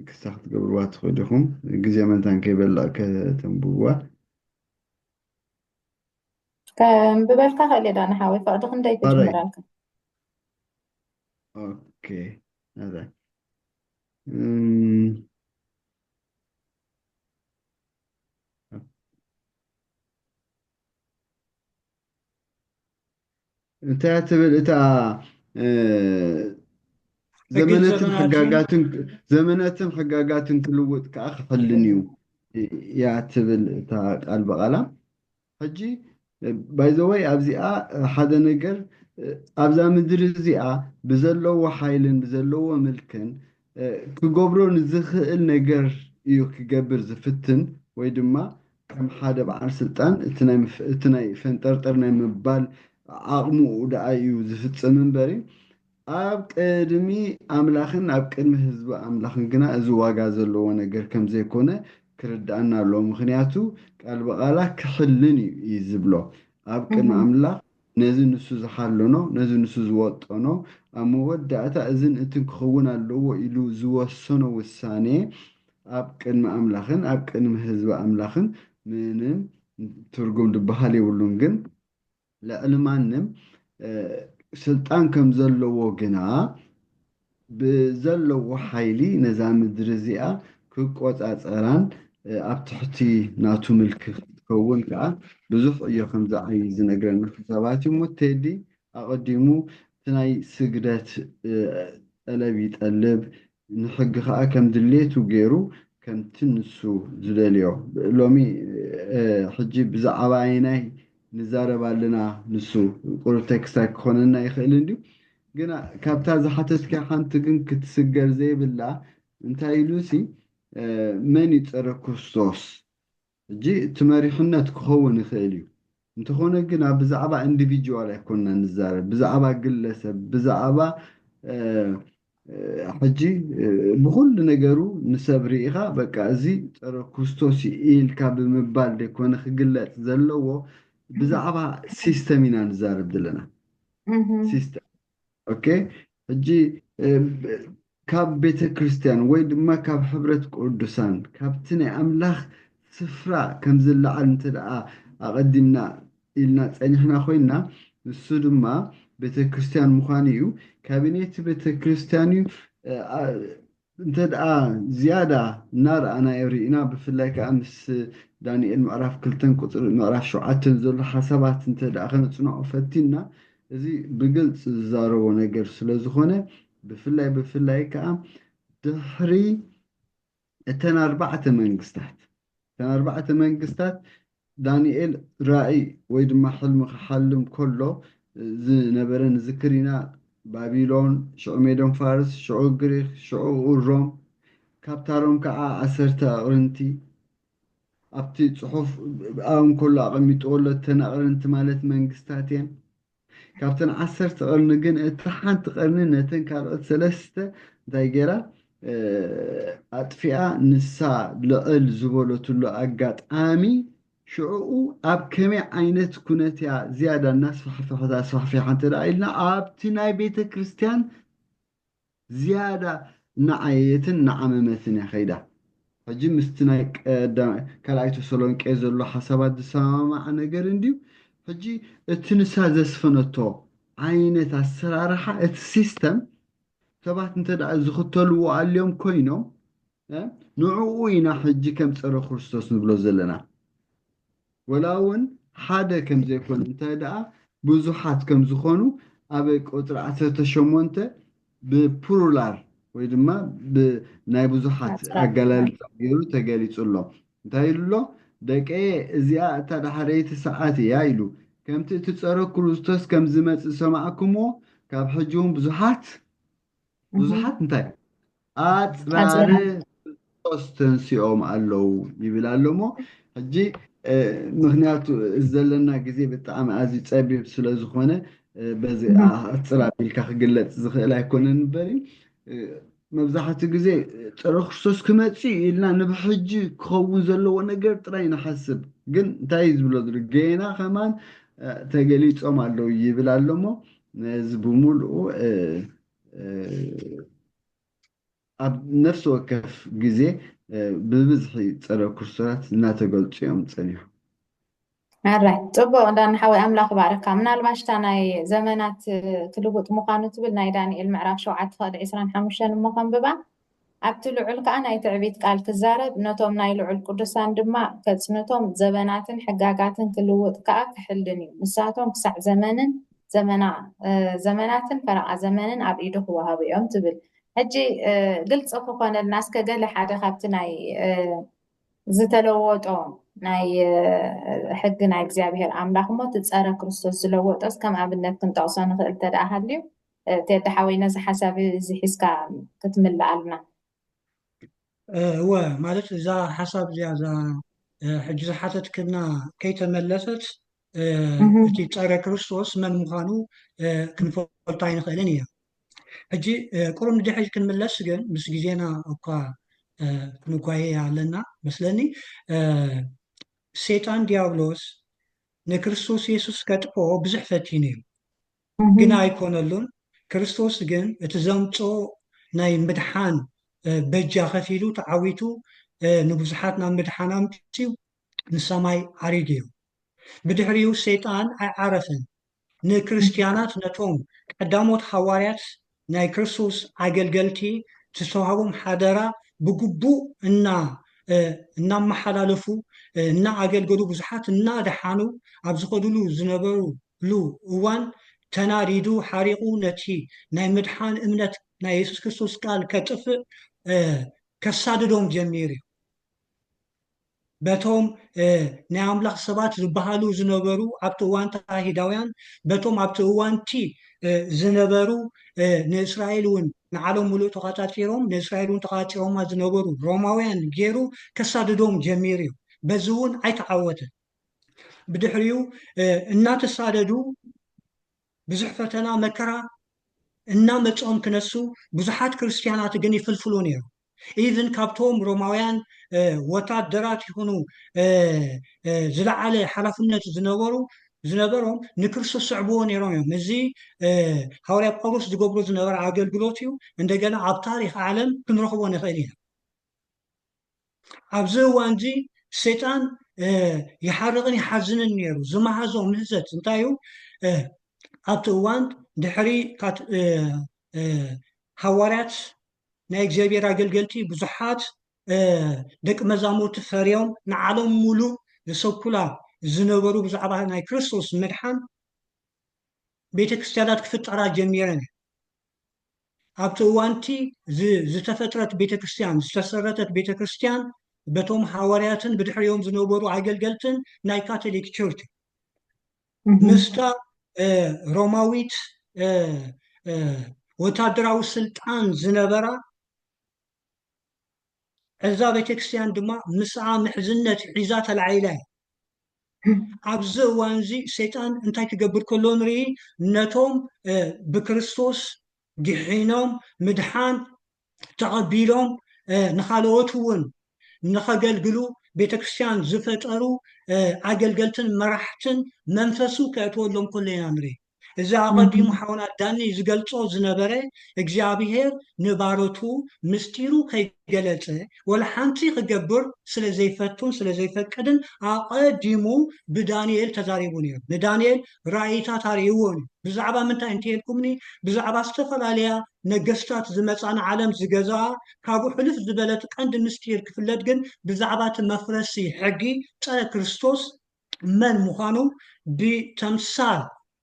ክሳ ክትገብርዋ ትኽእሉ ኢኹም ግዜ መንታን ከይበላእ ከተንብብዋ ብበልካ ክእል እየ ዳኒ ሓወይ ፍቅዲ ክንደይ ክጅምረልካ ኦኬ ኣራይ እንታይ እያ ትብል እታ ዘመነትን ሕጋጋትን ዘመነትን ሕጋጋትን ክልውጥ ከዓ ክሕልን እዩ እያ ትብል እታ ቃል ብቓላ ሕጂ ባይዘወይ ኣብዚኣ ሓደ ነገር ኣብዛ ምድሪ እዚኣ ብዘለዎ ሓይልን ብዘለዎ ምልክን ክገብሮ ንዝኽእል ነገር እዩ ክገብር ዝፍትን ወይ ድማ ከም ሓደ በዓል ስልጣን እቲ ናይ ፈንጠርጠር ናይ ምባል ዓቕሙኡ ደኣ እዩ ዝፍጽም እምበሪ ኣብ ቅድሚ ኣምላኽን ኣብ ቅድሚ ህዝቢ ኣምላኽን ግና እዚ ዋጋ ዘለዎ ነገር ከም ዘይኮነ ክርድኣና ኣለዎ ምኽንያቱ ቃል ብቓላ ክሕልን እዩ እዩ ዝብሎ ኣብ ቅድሚ ኣምላኽ ነዚ ንሱ ዝሓለኖ፣ ነዚ ንሱ ዝወጠኖ፣ ኣብ መወዳእታ እዝን እትን ክኸውን ኣለዎ ኢሉ ዝወሰኖ ውሳኔ ኣብ ቅድሚ ኣምላኽን ኣብ ቅድሚ ህዝቢ ኣምላኽን ምንም ትርጉም ዝበሃል የብሉን። ግን ልዕሊ ማንም ስልጣን ከም ዘለዎ ግና ብዘለዎ ሓይሊ ነዛ ምድሪ እዚኣ ክቈጻጸራን ኣብ ትሕቲ ናቱ ምልኪ ክትከውን ከኣ ብዙሕ ዕዮ ከም ዝዓዪ ዝነግረና ሓሳባት እዩ እሞ ቴዲ ኣቐዲሙ እቲ ናይ ስግደት ጠለብ ይጠልብ ንሕጊ ከኣ ከም ድሌቱ ገይሩ ከምቲ ንሱ ዝደልዮ ሎሚ ሕጂ ብዛዕባ ኣየናይ ንዛረብ ኣለና ንሱ ቁሩብ ቴክስታይ ክኾነና ይኽእል እንድዩ ግና ካብታ ዝሓተትክያ ሓንቲ ግን ክትስገር ዘይብላ እንታይ ኢሉሲ መን እዩ ጸረ ክርስቶስ ሕጂ እቲ መሪሕነት ክኸውን ይኽእል እዩ እንተኾነ ግና ብዛዕባ እንዲቪጅዋል ኣይኮንና ንዛረብ ብዛዕባ ግለሰብ ብዛዕባ ሕጂ ብኹሉ ነገሩ ንሰብ ርኢኻ በቃ እዚ ጸረ ክርስቶስ እዩ ኢልካ ብምባል ዘይኮነ ክግለጽ ዘለዎ ብዛዕባ ሲስተም ኢና ንዛረብ ዘለና ሲስተር ኦኬ ሕጂ ካብ ቤተ ክርስቲያን ወይ ድማ ካብ ሕብረት ቅዱሳን ካብቲ ናይ ኣምላኽ ስፍራ ከም ዝለዓል እንተ ደኣ ኣቐዲምና ኢልና ጸኒሕና ኮይንና ንሱ ድማ ቤተ ክርስቲያን ምዃኑ እዩ ካቢኔት ቤተ ክርስቲያን እዩ እንተድኣ ዝያዳ እናረኣናዮ ርኢና ብፍላይ ከኣ ምስ ዳንኤል ምዕራፍ ክልተን ቁጽሪ ምዕራፍ ሸውዓተን ዘሎ ሓሳባት እንተድኣ ከነጽንዖ ፈቲንና እዚ ብግልጺ ዝዛረቦ ነገር ስለ ዝኾነ ብፍላይ ብፍላይ ከኣ ድሕሪ እተን ኣርባዕተ መንግስታት እተን ኣርባዕተ መንግስታት፣ ዳንኤል ራእይ ወይ ድማ ሕልሚ ኺሓልም ከሎ ዝነበረ ንዝክር ኢና፣ ባቢሎን፣ ሽዑ ሜዶን ፋርስ፣ ሽዑ ግሪኽ፣ ሽዑኡ ሮም፣ ካብታ ሮም ከኣ ዓሰርተ ኣቕርንቲ፣ ኣብቲ ጽሑፍ ኣብ እንከሎ ኣቐሚጥዎ ኣሎ፣ እተን ኣቕርንቲ ማለት መንግስታት እየን። ካብተን ዓሰርተ ቐርኒ ግን እታ ሓንቲ ቐርኒ ነተን ካልኦት ሰለስተ እንታይ ገይራ ኣጥፊኣ ንሳ ልዕል ዝበለትሉ ኣጋጣሚ ሽዕኡ ኣብ ከመይ ዓይነት ኩነት እያ ዝያዳ እናስፋሕፈሐት ኣስፋሕፊሓ እንተ ኢልና ኣብቲ ናይ ቤተ ክርስቲያን ዝያዳ እናዓየየትን እናዓመመትን እያ ከይዳ። ሕጂ ምስቲ ናይ ካልኣይ ተሰሎንቄ ዘሎ ሓሳባት ዝሰማማዕ ነገር እንድዩ፣ ሕጂ እቲ ንሳ ዘስፈነቶ ዓይነት ኣሰራርሓ እቲ ሲስተም ሰባት እንተድኣ ዝኽተልዎ ኣልዮም ኮይኖም ንዕኡ ኢና ሕጂ ከም ጸረ ክርስቶስ ንብሎ ዘለና። ወላ ውን ሓደ ከም ዘይኮነ እንተ ደኣ ብዙሓት ከም ዝኾኑ ኣብ ቁጽሪ ዓሰርተ ሸሞንተ ብፕሩላር ወይ ድማ ብናይ ብዙሓት ኣገላልጻ ገይሩ ተገሊጹ ኣሎ። እንታይ ኢሉ ኣሎ? ደቀየ እዚኣ እታ ዳሕረይቲ ሰዓት ኢያ ኢሉ። ከምቲ እቲ ጸረ ኩሩስቶስ ከም ዝመጽእ ዝሰማዕክምዎ ካብ ሕጂ ውን ብዙሓት ብዙሓት እንታይ ኣፅራር ክርስቶስ ተንሲኦም ኣለው ይብል ኣሎ እሞ ሕጂ ምክንያቱ ዘለና ግዜ ብጣዕሚ ኣዝዩ ፀቢብ ስለ ዝኾነ በዚ ኣፅር ኣቢልካ ክግለፅ ዝኽእል ኣይኮነን በሪ መብዛሕትኡ ግዜ ፀረ ክርስቶስ ክመፅእ እዩ ኢልና ንብሕጂ ክኸውን ዘለዎ ነገር ጥራይ ንሓስብ ግን እንታይ እዩ ዝብሎ ዘሎ ገና ከማን ተገሊፆም ኣለው ይብል ኣሎ እሞ ነዚ ብምሉኡ ኣብ ነፍሲ ወከፍ ግዜ ብብዝሒ ፀረ ክርስቶራት እናተገልፁ እዮም ፀኒሖም። ኣራይ ፅቡቅ ዳኒ ሓወይ ኣምላኽ ይባርካ ምናልባሽ እታ ናይ ዘመናት ክልውጥ ምዃኑ ትብል ናይ ዳንኤል ምዕራፍ ሸውዓተ ክቕዲ ዕስራን ሓሙሽተን እሞ ከንብባ ኣብቲ ልዑል ከኣ ናይ ትዕቢት ቃል ክዛረብ፣ ነቶም ናይ ልዑል ቅዱሳን ድማ ከጽንቶም፣ ዘበናትን ሕጋጋትን ክልውጥ ከኣ ክሕልን እዩ፣ ንሳቶም ክሳዕ ዘመንን ዘመና ዘመናትን ፈረቓ ዘመንን ኣብ ኢዱ ክወሃቡ እዮም ትብል። ሕጂ ግልጺ ክኾነልና እስከ ገለ ሓደ ካብቲ ናይ ዝተለወጦ ናይ ሕጊ ናይ እግዚኣብሔር ኣምላኽ እሞ እቲ ጸረ ክርስቶስ ዝለወጦስ ከም ኣብነት ክንጠቕሶ ንኽእል እንተደኣ ሃልዩ ቴዲ ሓወይ ነዚ ሓሳብ እዚ ሒዝካ ክትምልኣልና። እወ ማለት እዛ ሓሳብ እዚኣ እዛ ሕጂ ዝሓተትክልና ከይተመለሰት እቲ ጸረ ክርስቶስ መን ምዃኑ ክንፈልጦ ኣይንኽእልን ኢና። ሕጂ ቁሩብ ንድሕሪት ክንምለስ ግን ምስ ግዜና እኳ ክንጓየ ኣለና መስለኒ ሰይጣን ዲያብሎስ ንክርስቶስ የሱስ ከጥፍኦ ብዙሕ ፈቲኑ እዩ። ግና ኣይኮነሉን፣ ክርስቶስ ግን እቲ ዘምጽኦ ናይ ምድሓን በጃ ከፊሉ ተዓዊቱ ንብዙሓት ናብ ምድሓን ኣምጺኡ ንሰማይ ዓሪጉ እዩ። ብድሕሪኡ ሰይጣን ኣይዓረፈን ንክርስትያናት ነቶም ቀዳሞት ሃዋርያት ናይ ክርስቶስ ኣገልገልቲ ዝተዋህቦም ሓደራ ብግቡእ እና እናመሓላለፉ እና ኣገልገሉ ብዙሓት እና ደሓኑ ኣብ ዝኸዱሉ ዝነበሩሉ እዋን ተናዲዱ ሓሪቑ ነቲ ናይ ምድሓን እምነት ናይ የሱስ ክርስቶስ ቃል ከጥፍእ ከሳድዶም ጀሚሩ እዩ። በቶም ናይ ኣምላኽ ሰባት ዝበሃሉ ዝነበሩ ኣብቲ እዋንታ ኣይሁዳውያን በቶም ኣብቲ እዋንቲ ዝነበሩ ንእስራኤል እውን ንዓለም ምሉእ ተቛጻጺሮም ንእስራኤል እውን ተቛጺሮማ ዝነበሩ ሮማውያን ገይሩ ከሳድዶም ጀሚሩ እዩ በዚ እውን ኣይተዓወተን ብድሕሪኡ እናተሳደዱ ብዙሕ ፈተና መከራ እናመጾም ክነሱ ብዙሓት ክርስትያናት ግን ይፍልፍሉ ነይሩ ኢቭን ካብቶም ሮማውያን ወታደራት ይኹኑ ዝለዓለ ሓላፍነት ዝነበሩ ዝነበሮም ንክርስቶስ ስዕብዎ ነይሮም እዮም እዚ ሃዋርያ ጳውሎስ ዝገብሮ ዝነበረ ኣገልግሎት እዩ እንደገና ኣብ ታሪክ ዓለም ክንረኽቦ ንኽእል ኢና ኣብዚ እዋን እዚ ሰይጣን ይሓርቕን ይሓዝንን ነይሩ ዝመሃዞ ምህዘት እንታይ እዩ ኣብቲ እዋን ድሕሪ ሃዋርያት ናይ እግዚኣብሔር ኣገልገልቲ ብዙሓት ደቂ መዛሙርቲ ፈርዮም ንዓለም ሙሉእ ዝሰብኩላ ዝነበሩ ብዛዕባ ናይ ክርስቶስ ምድሓን ቤተ ክርስቲያናት ክፍጠራ ጀሚረን እየ ኣብቲ እዋንቲ ዝተፈጥረት ቤተ ክርስቲያን ዝተሰረተት ቤተ ክርስቲያን በቶም ሃዋርያትን ብድሕሪኦም ዝነበሩ ኣገልገልትን ናይ ካቶሊክ ቸርች ምስታ ሮማዊት ወታደራዊ ስልጣን ዝነበራ እዛ ቤተክርስትያን ድማ ምስኣ ምሕዝነት ሒዛ ተላዒላ እያ ኣብዚ እዋን እዚ ሰይጣን እንታይ ክገብር ከሎ ንርኢ ነቶም ብክርስቶስ ድሒኖም ምድሓን ተቐቢሎም ንኻልኦት እውን ንኸገልግሉ ቤተ ክርስቲያን ዝፈጠሩ ኣገልገልትን መራሕትን መንፈሱ ከእትወሎም ከሎ ኢና ንርኢ። እዚ ኣቐዲሙ ሓውና ዳኒ ዝገልጾ ዝነበረ እግዚኣብሄር ንባሮቱ ምስጢሩ ከይገለጸ ወላ ሓንቲ ክገብር ስለ ዘይፈቱን ስለ ዘይፈቅድን ኣቐዲሙ ብዳንኤል ተዛሪቡ ነይሩ። ንዳንኤል ራኢታት ኣርእይዎም እዩ። ብዛዕባ ምንታይ እንተኢልኩምኒ ብዛዕባ ዝተፈላለያ ነገስታት ዝመጻ ንዓለም ዝገዝኣ ካብኡ ሕልፍ ዝበለ እቲ ቀንዲ ምስጢር ክፍለጥ ግን ብዛዕባ እቲ መፍረሲ ሕጊ ጸረ ክርስቶስ መን ምዃኑ ብተምሳል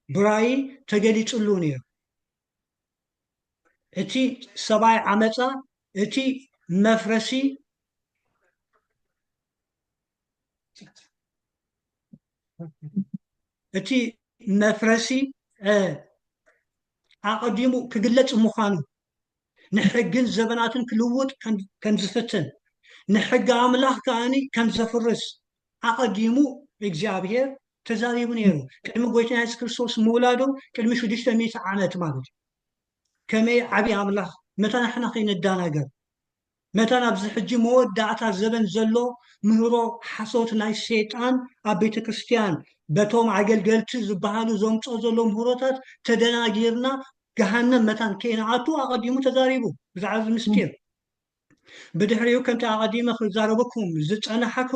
ብራኢ ተገሊጽሉ ነይሩ። እቲ ሰብኣይ ዓመጻ እቲ መፍረሲ እቲ መፍረሲ ኣቐዲሙ ክግለጽ ምዃኑ ንሕግን ዘበናትን ክልውጥ ከም ዝፍትን ንሕጊ ኣምላኽ ከኣኒ ከም ዘፍርስ ኣቐዲሙ እግዚኣብሔር ተዛሪቡ ነይሩ ቅድሚ ጎይትና የሱስ ክርስቶስ ምውላዱ ቅድሚ 600 ዓመት ማለት እዩ ከመይ ዓብዪ ኣምላኽ መታን ንሕና ከይንደናገር መታን ኣብዚ ሕጂ መወዳእታ ዘበን ዘሎ ምህሮ ሓሶት ናይ ሰይጣን ኣብ ቤተክርስትያን በቶም ኣገልገልቲ ዝበሃሉ ዘምጽኦ ዘሎ ምህሮታት ተደናጊርና ገሃነም መታን ከይንኣቱ ኣቐዲሙ ተዛሪቡ ብዛዕባ እዚ ምስጢር ብድሕሪኡ ከምቲ ኣቐዲመ ክዛረበኩም ዝጸናሕኩ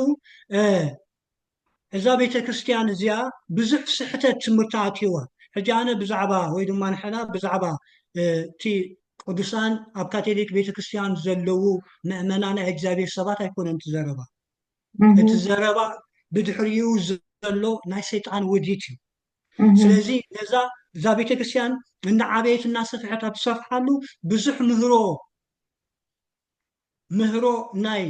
እዛ ቤተክርስትያን እዚኣ ብዙሕ ስሕተት ትምህርቲ ኣትይዋ ሕጂ ኣነ ብዛዕባ ወይ ድማ ንሕና ብዛዕባ እቲ ቅዱሳን ኣብ ካቶሊክ ቤተክርስትያን ዘለዉ መእመና ናይ እግዚኣብሔር ሰባት ኣይኮነን እቲ ዘረባ እቲ ዘረባ ብድሕሪኡ ዘሎ ናይ ሰይጣን ውዲት እዩ ስለዚ ነዛ እዛ ቤተክርስትያን እናዓበየት እናሰፍሐት ኣብ ትሰፍሓሉ ብዙሕ ምህሮ ምህሮ ናይ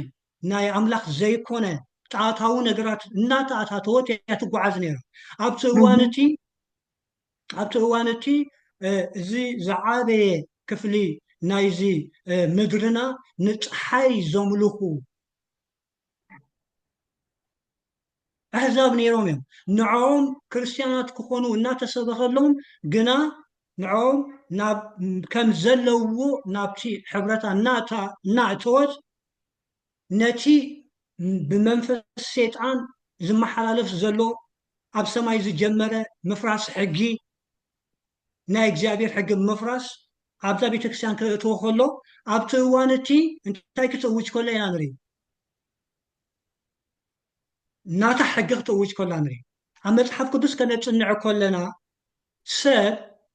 ናይ ኣምላኽ ዘይኮነ ጣታዊ ነገራት እናተኣታተወት እያ ትጓዓዝ ነይራ። ኣብቲ እዋን እቲ ኣብቲ እዋን እቲ እዚ ዝዓበየ ክፍሊ ናይዚ ምድርና ንጸሓይ ዘምልኹ ኣሕዛብ ነይሮም እዮም። ንዕኦም ክርስትያናት ክኾኑ እናተሰበኸሎም ግና ንዕኦም ናብ ከም ዘለውዎ ናብቲ ሕብረታ እናእታ እናእተወት ነቲ ብመንፈስ ሴጣን ዝመሓላለፍ ዘሎ ኣብ ሰማይ ዝጀመረ ምፍራስ ሕጊ ናይ እግዚኣብሔር ሕጊ ምፍራስ ኣብዛ ቤተክርስቲያን ክእትዎ ከሎ ኣብቲ እዋን እቲ እንታይ ክትእውጅ ከሎ ኢና ንርኢ ናታ ሕጊ ክትእውጅ ከላ ንርኢ ኣብ መጽሓፍ ቅዱስ ከነጽንዕ ከለና ሰብ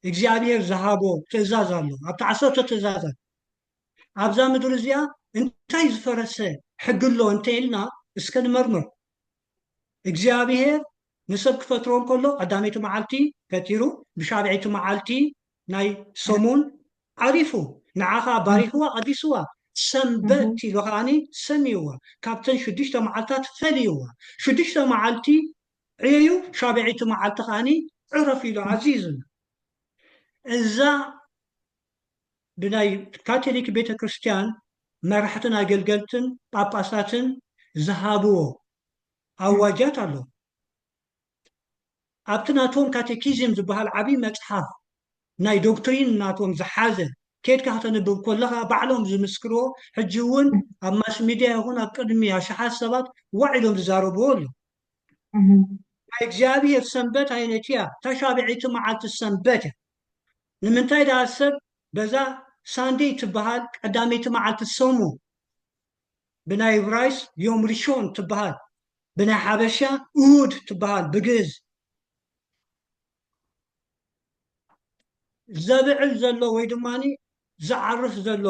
እግዚኣብሔር ዝሃቦ ትእዛዝ ኣሎ ኣብቲ ዓሰርተ ትእዛዛት ኣብዛ ምድሪ እዚኣ እንታይ ዝፈረሰ ሕጊ ኣሎ እንተ ኢልና እስከ ንመርምር እግዚኣብሄር ንሰብ ክፈጥሮ እንከሎ ቀዳመይቲ መዓልቲ ፈጢሩ ብሻብዐይቲ መዓልቲ ናይ ሰሙን ዓሪፉ ንዓ ከዓ ባሪኽዋ ቀዲስዋ ሰንበት ኢሉ ከዓኒ ሰሚይዋ ካብተን ሽዱሽተ መዓልትታት ፈልይዋ ሽዱሽተ መዓልቲ ዕየዩ ሻብዐይቲ መዓልቲ ከዓኒ ዕረፍ ኢሉ ዓዚዙና እዛ ብናይ ካቶሊክ ቤተ ክርስቲያን መራሕትን ኣገልገልትን ጳጳሳትን ዝሃብዎ ኣዋጃት ኣሎ። ኣብቲ ናቶም ካቴኪዝም ዝበሃል ዓብዪ መጽሓፍ ናይ ዶክትሪን ናቶም ዝሓዘ ኬድካ ከተንብብ ኮለኻ ባዕሎም ዝምስክርዎ ሕጂ እውን ኣብ ማስ ሚድያ ይኹን ኣብ ቅድሚ ኣሽሓት ሰባት ዋዕ ኢሎም ዝዛረብዎ ኣሎ ናይ እግዚኣብሔር ሰንበት ኣይነት እያ ተሻብዒቲ መዓልቲ ሰንበት እያ ንምንታይ ደኣ ሰብ በዛ ሳንደይ ትበሃል ቀዳመይቲ መዓልቲ ሰሙን፣ ብናይ እብራይስጥ ዮም ርሾን ትበሃል፣ ብናይ ሓበሻ እሁድ ትበሃል፣ ብግእዝ፣ ዘብዕል ዘሎ ወይ ድማ ዝዓርፍ ዘሎ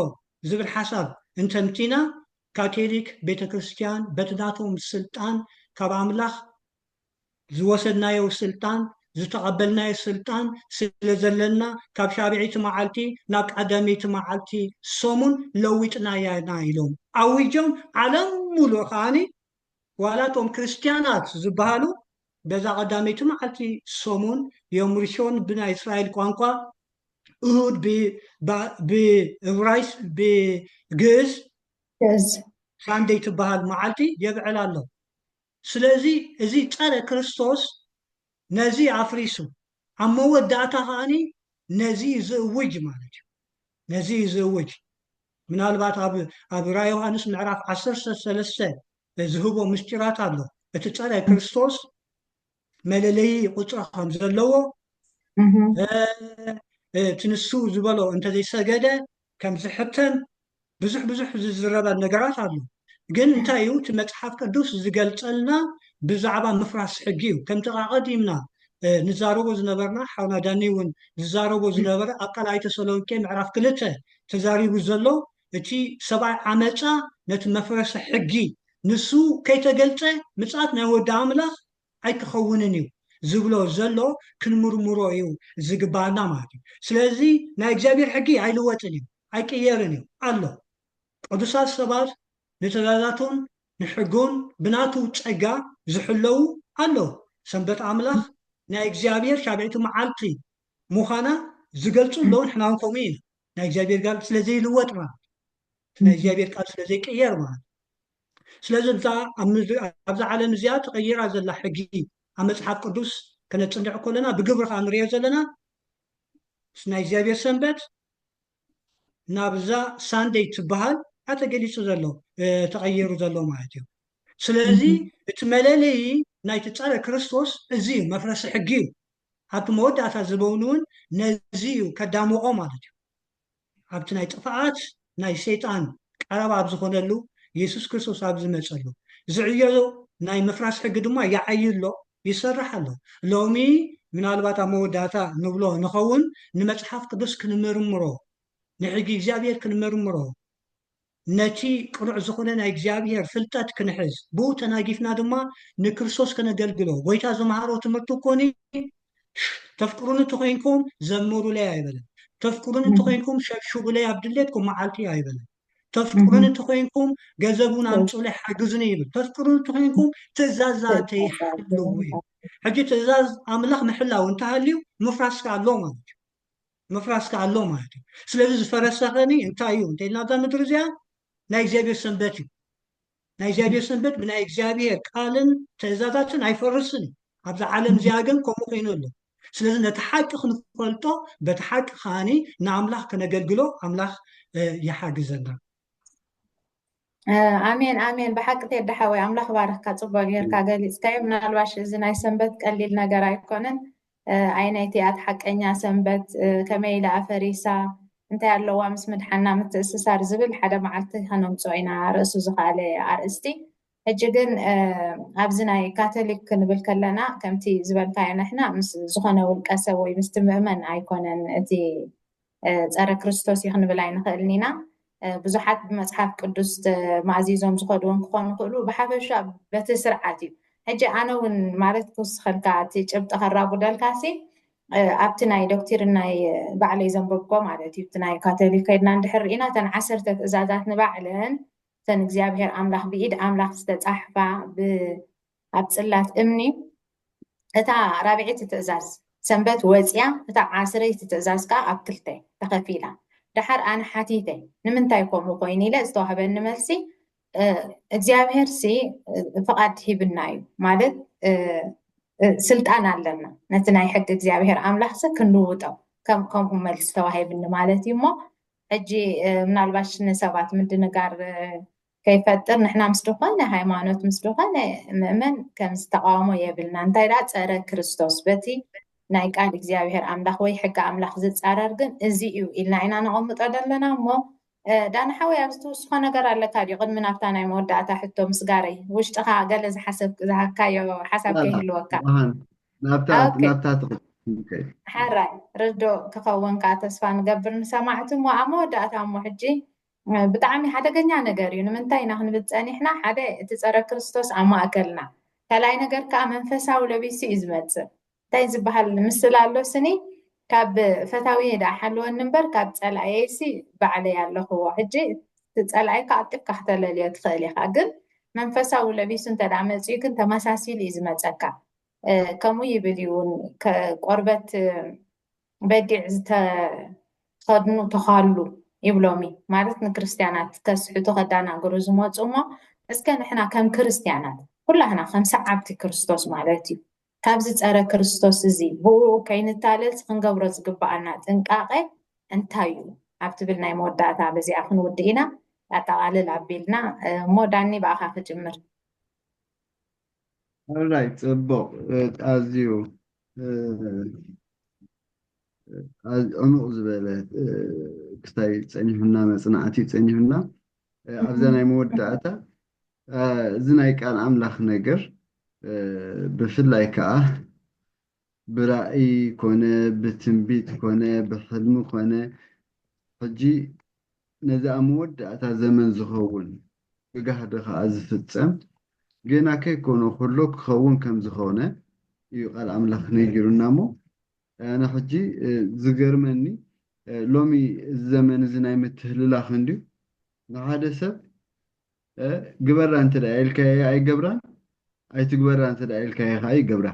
ዝብል ሓሳብ እንተምጺእና፣ ካቶሊክ ቤተክርስትያን በቲ ናቶም ስልጣን ካብ ኣምላኽ ዝወሰድናዮ ስልጣን ዝተቐበልናዮ ስልጣን ስለ ዘለና ካብ ሻብዒይቲ መዓልቲ ናብ ቀዳመይቲ መዓልቲ ሰሙን ለዊጥናያ ኢና ኢሎም ኣዊጆም ዓለም ሙሉእ ከኣ ዋላ እቶም ክርስትያናት ዝበሃሉ በዛ ቀዳመይቲ መዓልቲ ሰሙን ዮም ርሾን ብናይ እስራኤል ቋንቋ እሁድ ብእብራይስ ብግእዝ ሳንደይ ትበሃል መዓልቲ የብዕላ ኣሎ። ስለዚ እዚ ጸረ ክርስቶስ ነዚ ኣፍሪሱ ኣብ መወዳእታ ከኣ ነዚ እዩ ዝእውጅ ማለት እዩ ነዚ እዩ ዝእውጅ ምናልባት ኣብ ኣብ ራእይ ዮሃንስ ምዕራፍ ዓሰርተ ሰለስተ ዝህቦ ምስጢራት ኣሎ እቲ ጸረ ክርስቶስ መለለይ ቁፅሮ ከም ዘለዎ እቲ ንሱ ዝበሎ እንተዘይሰገደ ከም ዝሕተም ብዙሕ ብዙሕ ዝዝረበ ነገራት ኣሎ ግን እንታይ እዩ እቲ መፅሓፍ ቅዱስ ዝገልፀልና ብዛዕባ ምፍራስ ሕጊ እዩ ከምቲ ቃቐዲምና ንዛረቦ ዝነበርና ሓውና ዳኒ እውን ዝዛረቦ ዝነበረ ኣብ ካልኣይ ተሰሎንቄ ምዕራፍ ክልተ ተዛሪቡ ዘሎ እቲ ሰብኣይ ዓመጻ ነቲ መፍረሰ ሕጊ ንሱ ከይተገልጸ ምጽኣት ናይ ወዲ ኣምላኽ ኣይክኸውንን እዩ ዝብሎ ዘሎ ክንምርምሮ እዩ ዝግባኣና ማለት እዩ ስለዚ ናይ እግዚኣብሔር ሕጊ ኣይልወጥን እዩ ኣይቅየርን እዩ ኣሎ ቅዱሳት ሰባት ንትእዛዛቱን ንሕጉን ብናቱ ጸጋ ዝሕለዉ ኣለዉ ሰንበት ኣምላኽ ናይ እግዚኣብሔር ሻብዒቲ መዓልቲ ምዃና ዝገልጹ ኣለዉ ንሕናውን ከምኡ ኢና ናይ እግዚኣብሔር ጋል ስለ ዘይልወጥ ማለት እቲ ናይ እግዚኣብሔር ቃል ስለ ዘይቅየር ማለት ስለዚ እዛ ኣብዛ ዓለም እዚኣ ተቐይራ ዘላ ሕጊ ኣብ መጽሓፍ ቅዱስ ከነጽንዕ ከለና ብግብሪ ከዓ ንሪኦ ዘለና ናይ እግዚኣብሔር ሰንበት ናብዛ ሳንደይ ትበሃል ዓ ተገሊጹ ዘሎ ተቐይሩ ዘሎ ማለት እዩ ስለዚ እቲ መለለዪ ናይቲ ጸረ ክርስቶስ እዚ እዩ መፍረሲ ሕጊ እዩ ኣብቲ መወዳእታ ዝበውንውን ነዚ እዩ ከዳምቖ ማለት እዩ ኣብቲ ናይ ጥፍኣት ናይ ሰይጣን ቀረባ ኣብ ዝኾነሉ የሱስ ክርስቶስ ኣብ ዝመጸሉ ዝዕዮ ናይ ምፍራስ ሕጊ ድማ ይዓዪ ኣሎ ይሰርሕ ኣሎ ሎሚ ምናልባት ኣብ መወዳእታ ንብሎ ንኸውን ንመጽሓፍ ቅዱስ ክንምርምሮ ንሕጊ እግዚኣብሔር ክንምርምሮ ነቲ ቅኑዕ ዝኹነ ናይ እግዚኣብሔር ፍልጠት ክንሕዝ ብኡ ተናጊፍና ድማ ንክርስቶስ ከነገልግሎ ጎይታ ዝመሃሮ ትምህርቲ እኮኒ ተፍቅሩኒ ተኾይንኩም ዘምሩለይ ኣይበለን ተፍቅሩኒ ተኾይንኩም ሸብሽቡለይ ኣብ ድሌትኩም መዓልቲ ኣይበለን ተፍቅሩኒ ተኾይንኩም ገዘቡን ኣምፁለይ ሓግዙኒ ይብል ተፍቅሩኒ ተኾይንኩም ትእዛዛተይ ሓልው እዩ ሕጂ ትእዛዝ ኣምላኽ ምሕላው እንተሃልዩ ምፍራስ ከ ኣሎ ማለት እዩ ምፍራስ ከኣ ኣሎ ማለት እዩ። ስለዚ ዝፈረሰ ኸኒ እንታይ እዩ እንተ ኢልና እዛ ምድሪ እዚኣ ናይ እግዚኣብሄር ሰንበት እዩ። ናይ እግዚኣብሄር ሰንበት ብናይ እግዚኣብሄር ቃልን ትእዛዛትን ኣይፈርስን እዩ። ኣብዛ ዓለም እዚኣ ግን ከምኡ ኮይኑ ኣሎ። ስለዚ ነቲ ሓቂ ክንፈልጦ በቲ ሓቂ ከኣ ንኣምላኽ ከነገልግሎ ኣምላኽ ይሓግዘና። ኣሜን ኣሜን ብሓቂ ቴዲ ሓወይ ኣምላኽ ባርኽካ ፅቡቅ ጌርካ ገሊፅካዮ ምናልባሽ እዚ ናይ ሰንበት ቀሊል ነገር ኣይኮነን ኣይነይቲ ኣት ሓቀኛ ሰንበት ከመይ ኢላ ኣፈሪሳ እንታይ ኣለዋ ምስ ምድሓና ምትእስሳር ዝብል ሓደ መዓልቲ ከነምፅኦ ኢና ርእሱ ዝኸኣለ ኣርእስቲ ሕጂ ግን ኣብዚ ናይ ካቶሊክ ክንብል ከለና ከምቲ ዝበልካዮ ንሕና ምስ ዝኾነ ውልቀ ሰብ ወይ ምስቲ ምእመን ኣይኮነን እቲ ጸረ ክርስቶስ እዩ ክንብል ኣይንኽእልን ኢና። ብዙሓት ብመጽሓፍ ቅዱስ ተማእዚዞም ዝኸዱ እውን ክኾኑ ይኽእሉ። ብሓፈሻ በቲ ስርዓት እዩ። ሕጂ ኣነ እውን ማለት ክውስኸልካ እቲ ጭብጢ ከራጉደልካሲ ኣብቲ ናይ ዶክትሪን ናይ ባዕለይ ዘንበብኮ ማለት እዩ እቲ ናይ ካቶሊክ ከድና እንድሕር ርኢና እተን ዓሰርተ ትእዛዛት ንባዕለን እተን እግዚኣብሄር ኣምላኽ ብኢድ ኣምላኽ ዝተጻሕፋ ኣብ ጽላት እምኒ እታ ራብዒቲ ትእዛዝ ሰንበት ወጽያ እታ ዓስረይቲ ትእዛዝ ከኣ ኣብ ክልተ ተኸፊላ። ደሓር ኣነ ሓቲተ ንምንታይ ከምኡ ኮይኑ ኢለ ዝተዋህበኒ መልሲ እግዚኣብሔርሲ ፍቓድ ሂብና እዩ ማለት ስልጣን ኣለና ነቲ ናይ ሕጊ እግዚኣብሔር ኣምላኽሲ ክንልውጦ ከምኡ መልሲ ተዋሂብኒ ማለት እዩ እሞ ሕጂ ምናልባሽ ንሰባት ምድንጋር ከይፈጥር ንሕና ምስ ዝኾነ ሃይማኖት ምስ ዝኾነ ምእመን ከም ዝተቃወሞ የብልና እንታይ ደኣ ጸረ ክርስቶስ በቲ ናይ ቃል እግዚኣብሔር ኣምላኽ ወይ ሕጊ ኣምላኽ ዝጻረር ግን እዚ እዩ ኢልና ኢና ነቐምጦ ዘለና እሞ ዳና ሓወይ ኣብዚ ትውስኾ ነገር ኣለካ ድዩ ቅድሚ ናብታ ናይ መወዳእታ ሕቶ ምስጋረይ ውሽጥኻ ገለ ዝሓሰብ ዝሃካዮ ሓሳብ ከይህልወካ ናብታ ሓራይ ርዶ ክኸውንካ ተስፋ ንገብር ንሰማዕቲ እሞ ኣብ መወዳእታ እሞ ሕጂ ብጣዕሚ ሓደገኛ ነገር እዩ። ንምንታይ ኢና ክንብል ጸኒሕና፣ ሓደ እቲ ጸረ ክርስቶስ ኣብ ማእከልና፣ ካልኣይ ነገር ከኣ መንፈሳዊ ለቢሱ እዩ ዝመጽእ። እንታይ ዝበሃል ምስላ ኣሎ ስኒ ካብ ፈታውየይ ደኣ ሓልወኒ እምበር ካብ ጸላእየይሲ ባዕለይ ኣለኽዎ። ሕጂ እቲ ጸላእይ ክኣጥፍካ ክተለልዮ ትኽእል ኢኻ ግን መንፈሳዊ ለቢሱ እንተደኣ መጽዩ ግን ተመሳሲሉ እዩ ዝመጸካ። ከምኡ ይብል እዩ እውን ቆርበት በጊዕ ዝተኸድኑ ተዃሉ ይብሎም እዩ ማለት ንክርስትያናት ከስሕቱ ከዳናግሩ ዝመፁ እሞ እስከ ንሕና ከም ክርስትያናት ኩላህና ከም ሰዓብቲ ክርስቶስ ማለት እዩ ካብዚ ፀረ ክርስቶስ እዚ ብኡ ከይንታለልስ ክንገብሮ ዝግባኣና ጥንቃቐ እንታይ እዩ ኣብ ትብል ናይ መወዳእታ በዚኣ ክንውድእ ኢና ኣጠቓልል ኣቢልና እሞ ዳኒ ብኣኻ ክጅምር ራይ ፅቡቕ ኣዝዩ ዕሙቕ ዝበለ ክስታይ ፀኒሑና መፅናዕቲ ፀኒሑና ኣብዛ ናይ መወዳእታ እዚ ናይ ቃል ኣምላኽ ነገር ብፍላይ ከዓ ብራእይ ኮነ ብትንቢት ኮነ ብሕልሚ ኮነ ሕጂ ነዚ ኣብ መወዳእታ ዘመን ዝኸውን ብጋህዲ ከኣ ዝፍጸም ገና ከይኮነ ከሎ ክኸውን ከም ዝኾነ እዩ ቃል ኣምላኽ ነጊሩና እሞ ኣነ ሕጂ ዝገርመኒ ሎሚ እዚ ዘመን እዚ ናይ ምትህልላኽ እንድዩ ንሓደ ሰብ ግበራ እንተ ኢልካዮ ኣይገብራን ኣይትግበራ እንተ ኢልካዮ ከኣ ይገብራ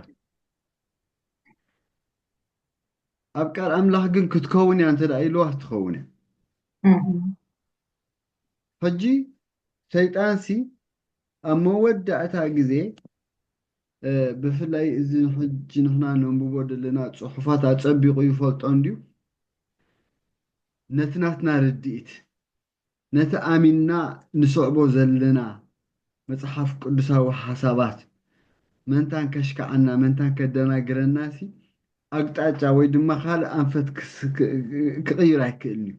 ኣብ ቃል ኣምላኽ ግን ክትከውን እያ እንተ ኢልዋስ ትኸውን እያ ሕጂ ሰይጣንሲ ኣብ መወዳእታ ግዜ ብፍላይ እዚ ሕጂ ንሕና ነንብቦ ዘለና ፅሑፋት ኣፀቢቑ ይፈልጦ እንድዩ ነቲ ናትና ርድኢት ነቲ ኣሚንና ንስዕቦ ዘለና መጽሓፍ ቅዱሳዊ ሓሳባት፣ መንታን ከሽክዓና መንታን ከደናግረናሲ ኣቅጣጫ ወይ ድማ ካልእ ኣንፈት ክቕይር ኣይክእልን'ዩ።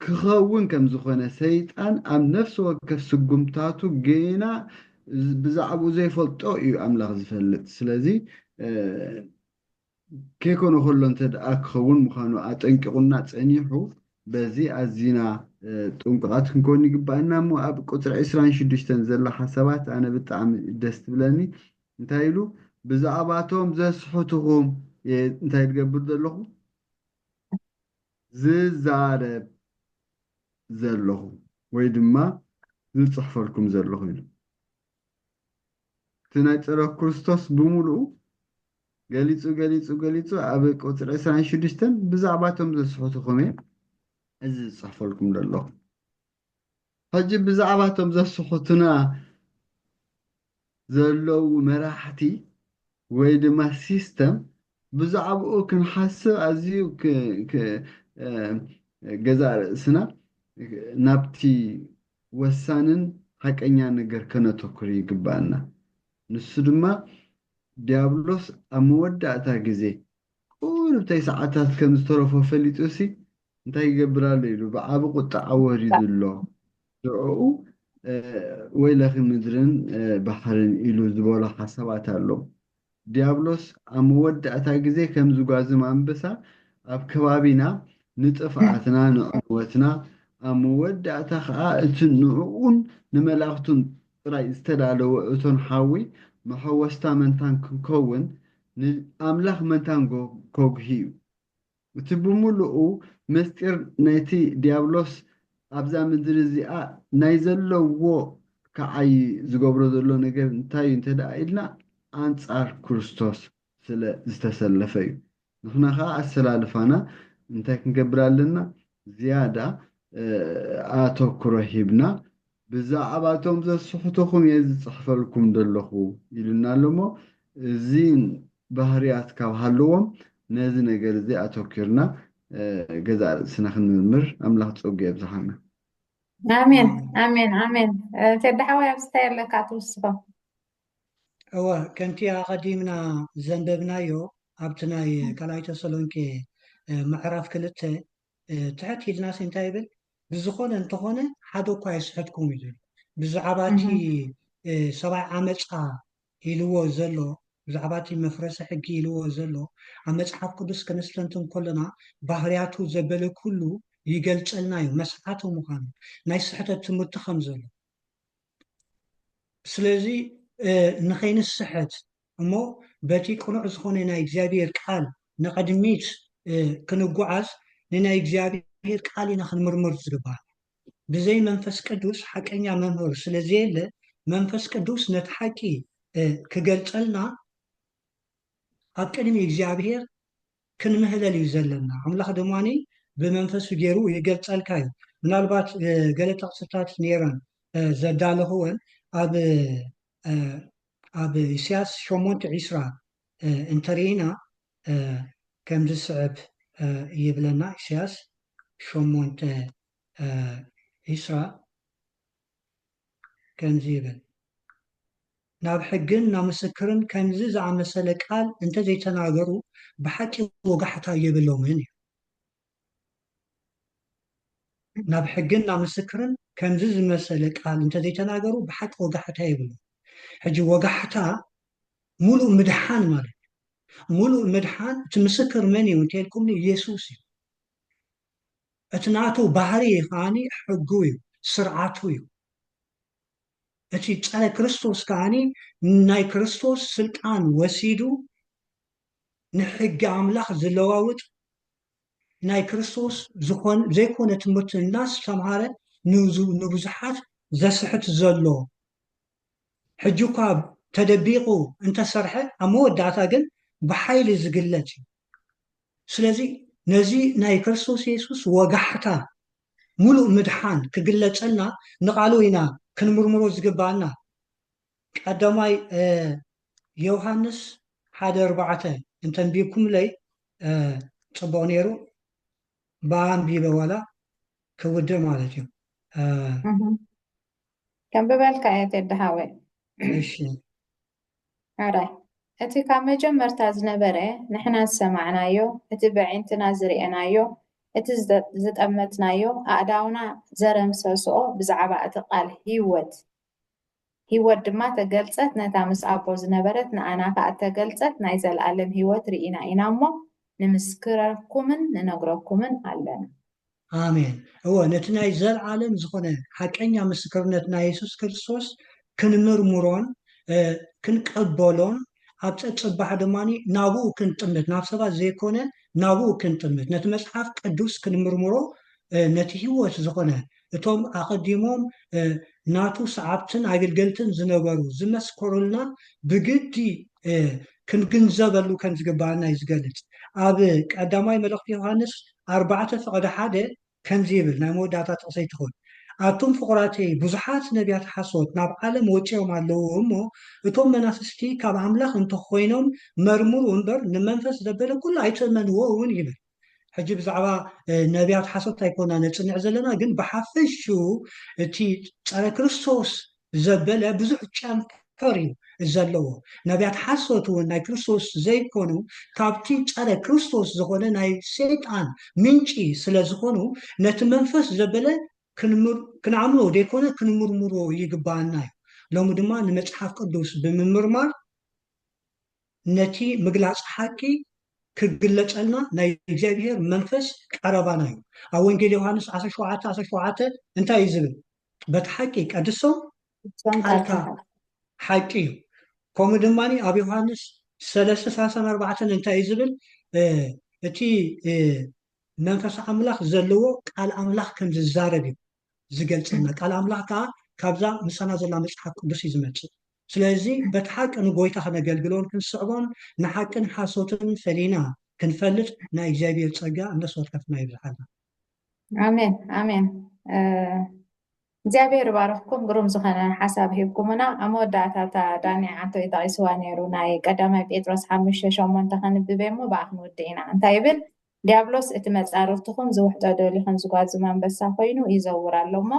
ክኸውን ከም ዝኾነ ሰይጣን ኣብ ነፍሲ ወከፍ ስጉምታቱ ጌና ብዛዕብኡ ዘይፈልጦ እዩ ኣምላኽ ዝፈልጥ። ስለዚ። ከይኮነ ከሎ እንተድኣ ክኸውን ምዃኑ ኣጠንቂቑና ጸኒሑ፣ በዚ ኣዚና ጥንቁቓት ክንከውን ይግብኣና እሞ ኣብ ቁጽሪ ዕስራን ሽዱሽተን ዘሎ ሓሳባት ኣነ ብጣዕሚ ደስ ትብለኒ እንታይ ኢሉ ብዛዕባቶም ዘስሕቱኹም እየ እንታይ ዝገብር ዘለኹ ዝዛረብ ዘለኹ ወይ ድማ ዝጽሕፈልኩም ዘለኹ ኢሉ እቲ ናይ ጸሎት ክርስቶስ ብምሉኡ ገሊጹ ገሊጹ ገሊጹ ኣብ ቁጽሪ ዕስራን ሽዱሽተን ብዛዕባ እቶም ዘስሕቱኹም እየ እዚ ዝጽሕፈልኩም ዘለኹ ሕጂ ብዛዕባ እቶም ዘስሕቱና ዘለዉ መራሕቲ ወይ ድማ ሲስተም ብዛዕባኡ ክንሓስብ ኣዝዩ ገዛ ርእስና ናብቲ ወሳንን ሓቀኛን ነገር ከነተኩር ይግብኣና። ንሱ ድማ ዲያብሎስ ኣብ መወዳእታ ግዜ ቁሩብ ተይሰዓታት ከም ዝተረፎ ፈሊጡሲ እንታይ ይገብር ኣሎ ኢሉ ብዓቢ ቁጥዓ ወሪዱ ኣሎ። ሽዑኡ ወይለኺ ምድርን ባሕርን ኢሉ ዝበሎ ሓሳባት ኣሎ። ድያብሎስ ኣብ መወዳእታ ግዜ ከም ዝጓዝም ኣንበሳ ኣብ ከባቢና ንጥፍኣትና ንዕንወትና ኣብ መወዳእታ ከኣ እቲ ንዕኡን ንመላእኽቱን ጥራይ ዝተዳለወ እቶን ሓዊ መሐወስታ መንታን ክንከውን ንኣምላኽ መንታን ከጉሂ እዩ። እቲ ብምሉኡ ምስጢር ናይቲ ዲያብሎስ ኣብዛ ምድሪ እዚኣ ናይ ዘለዎ ክዓዪ ዝገብሮ ዘሎ ነገር እንታይ እዩ እንተ ደኣ ኢልና ኣንጻር ክርስቶስ ስለ ዝተሰለፈ እዩ። ንሕና ከኣ ኣሰላልፋና እንታይ ክንገብር ኣለና ዝያዳ ኣተኩሮ ሂብና ብዛዕባቶም ዘስሕቱኹም እየ ዝጽሕፈልኩም ዘለኹ ኢሉና ኣሎ እሞ እዚ ባህርያት ካብ ሃለዎም ነዚ ነገር እዚ ኣተኪርና ገዛእ ርእስና ክንምርምር ኣምላኽ ጸጉ የብዝሓልና። ኣሜን ኣሜን ኣሜን ቴዲ ሓወይ ኣብዚ እንታይ ኣለካ ትውስኮ እወ ከምቲ ኣቐዲምና ዘንበብናዮ ኣብቲ ናይ ካልኣይ ተሰሎንቄ ምዕራፍ ክልተ ትሕት ኢልናሲ እንታይ ይብል ብዝኾነ እንተኾነ ሓደ እኳ ኣይስሕትኩም እዩ ዝብል ብዛዕባ እቲ ሰብኣይ ዓመፃ ኢልዎ ዘሎ ብዛዕባ እቲ መፍረሲ ሕጊ ኢልዎ ዘሎ ኣብ መፅሓፍ ቅዱስ ከነስተንትን ከሎና ባህርያቱ ዘበለ ኩሉ ይገልፀልና እዩ መስሓቲ ምዃኑ ናይ ስሕተት ትምህርቲ ከም ዘሎ ስለዚ ንኸይንስሕት እሞ በቲ ቅኑዕ ዝኾነ ናይ እግዚኣብሔር ቃል ንቐድሚት ክንጓዓዝ ንናይ እግዚኣብሔር ቃል ኢና ክንምርምር ዝግባል ብዘይ መንፈስ ቅዱስ ሓቀኛ መምህር ስለ ዘየለ መንፈስ ቅዱስ ነቲ ሓቂ ክገልጸልና ኣብ ቅድሚ እግዚኣብሔር ክንምህለል እዩ ዘለና ኣምላኽ ድማ ብመንፈሱ ጌሩ ይገልጸልካ እዩ ምናልባት ገለ ጥቕስታት ነይረን ዘዳለኽወን ኣብ ኣብ ኢሳያስ ሸሞንተ ዒስራ እንተርኢና ከም ዝስዕብ ይብለና ኢሳያስ ሸሞንተ ዒስራ ከምዚ ይብል፣ ናብ ሕግን ናብ ምስክርን ከምዚ ዝኣመሰለ ቃል እንተ ዘይተናገሩ ብሓቂ ወጋሕታ የብሎምን እዩ። ናብ ሕግን ናብ ምስክርን ከምዚ ዝመሰለ ቃል እንተ ዘይተናገሩ ብሓቂ ወጋሕታ የብሎም። ሕጂ ወጋሕታ ሙሉእ ምድሓን ማለት እዩ። ሙሉእ ምድሓን እቲ ምስክር መን እዩ እንተልኩምኒ ኢየሱስ እዩ። እቲ ናቱ ባህሪ ከኣኒ ሕጉ እዩ ስርዓቱ እዩ እቲ ጸረ ክርስቶስ ከኣኒ ናይ ክርስቶስ ስልጣን ወሲዱ ንሕጊ ኣምላኽ ዝለዋውጥ ናይ ክርስቶስ ዝኾን ዘይኮነ ትምህርቲ እናስተምሃረ ንብዙሓት ዘስሕት ዘሎ ሕጂ እኳ ተደቢቑ እንተሰርሐ ኣብ መወዳእታ ግን ብሓይሊ ዝግለጽ እዩ። ስለዚ ነዚ ናይ ክርስቶስ የሱስ ወጋሕታ ምሉእ ምድሓን ክግለጸልና ንቓሉ ኢና ክንምርምሮ ዝግብኣና። ቀዳማይ ዮውሃንስ ሓደ ኣርባዕተ እንተ ኣንቢብኩምለይ ጽቡቕ ነይሩ። ብኣ ኣንቢበ ዋላ ክውድእ ማለት እዩ። ከንብበልካ'የ ቴዲ ሓወይ። እሺ። ሐራይ እቲ ካብ መጀመርታ ዝነበረ ንሕና ዝሰማዕናዮ እቲ በዒንትና ዝርኤናዮ እቲ ዝጠመትናዮ ኣእዳውና ዘረምሰስኦ ብዛዕባ እቲ ቃል ሂወት ሂወት ድማ ተገልጸት ነታ ምስ ኣቦ ዝነበረት ንኣና ከኣ እተገልጸት ናይ ዘልኣለም ሂወት ርኢና ኢና እሞ ንምስክረኩምን ንነግረኩምን ኣለና። ኣሜን። እወ፣ ነቲ ናይ ዘለኣለም ዝዀነ ሓቀኛ ምስክርነት ናይ የሱስ ክርስቶስ ክንምርምሮን ክንቀበሎን፣ ኣብ ጸጽባሕ ድማ ናብኡ ክንጥምት፣ ናብ ሰባት ዘይኰነ ናብኡ ክንጥምት፣ ነቲ መጽሓፍ ቅዱስ ክንምርምሮ፣ ነቲ ህይወት ዝዀነ እቶም ኣቐዲሞም ናቱ ሰዓብትን ኣገልገልትን ዝነበሩ ዝመስከሩልና ብግዲ ክንግንዘበሉ ከም ዝግብኣና እዩ ዝገልጽ። ኣብ ቀዳማይ መልእኽቲ ዮሃንስ ኣርባዕተ ፈቐዶ ሓደ ከምዚ ይብል፣ ናይ መወዳእታ ጥቕሰይ ትኹን፣ ኣቱም ፍቑራተይ፣ ብዙሓት ነብያት ሓሶት ናብ ዓለም ወጺኦም ኣለዉ እሞ፣ እቶም መናፍስቲ ካብ ኣምላኽ እንተ ኾይኖም መርምሩ እምበር፣ ንመንፈስ ዘበለ ኩሉ ኣይትእመንዎ እውን ይብል። ሕጂ ብዛዕባ ነብያት ሓሶት ኣይኮናን ነጽንዕ ዘለና፣ ግን ብሓፈሽኡ እቲ ጸረ ክርስቶስ ዘበለ ብዙሕ ጨንፈር እዩ ዘለዎ። ነብያት ሓሶት እውን ናይ ክርስቶስ ዘይኮኑ ካብቲ ጸረ ክርስቶስ ዝኾነ ናይ ሰይጣን ምንጪ ስለ ዝኾኑ ነቲ መንፈስ ዘበለ ክንኣምኖ ዘይኮነ ክንምርምሮ ይግብኣና እዩ። ሎሚ ድማ ንመጽሓፍ ቅዱስ ብምምርማር ነቲ ምግላጽ ሓቂ ክግለጸልና ናይ እግዚኣብሔር መንፈስ ቀረባና እዩ። ኣብ ወንጌል ዮሐንስ ዓሰርተ ሸውዓተ ዓሰርተ ሸውዓተ እንታይ እዩ ዝብል? በቲ ሓቂ ቀድሶም ቃልካ ሓቂ እዩ ከምኡ ድማ ኣብ ዮሃንስ ሰለስተ ሰላሳን ኣርባዕተን እንታይ እዩ ዝብል እቲ መንፈስ ኣምላኽ ዘለዎ ቃል ኣምላኽ ከም ዝዛረብ እዩ ዝገልፀልና ቃል ኣምላኽ ከዓ ካብዛ ምሳና ዘላ መፅሓፍ ቅዱስ እዩ ዝመፅእ ስለዚ በቲ ሓቂ ንጎይታ ከነገልግሎን ክንስዕቦን ንሓቅን ሓሶትን ፈሊና ክንፈልጥ ናይ እግዚኣብሔር ፀጋ እነስወከፍና ይብዝሓልና ኣሜን ኣሜን እግዚኣብሔር ይባርኽኩም ግሩም ዝኾነ ሓሳብ ሂብኩምና ኣብ መወዳእታ እታ ዳኒ ዓቶ እዩ ጠቂስዋ ነይሩ ናይ ቀዳማይ ጴጥሮስ ሓሙሽተ ሸሞንተ ከንብበ እሞ ብኣ ክንውድእ ኢና እንታይ ይብል ዲያብሎስ እቲ መፃርርትኹም ዝውሕጦ ደልዩ ከም ዝጓዝም ኣንበሳ ኮይኑ ይዘውር ኣሎ እሞ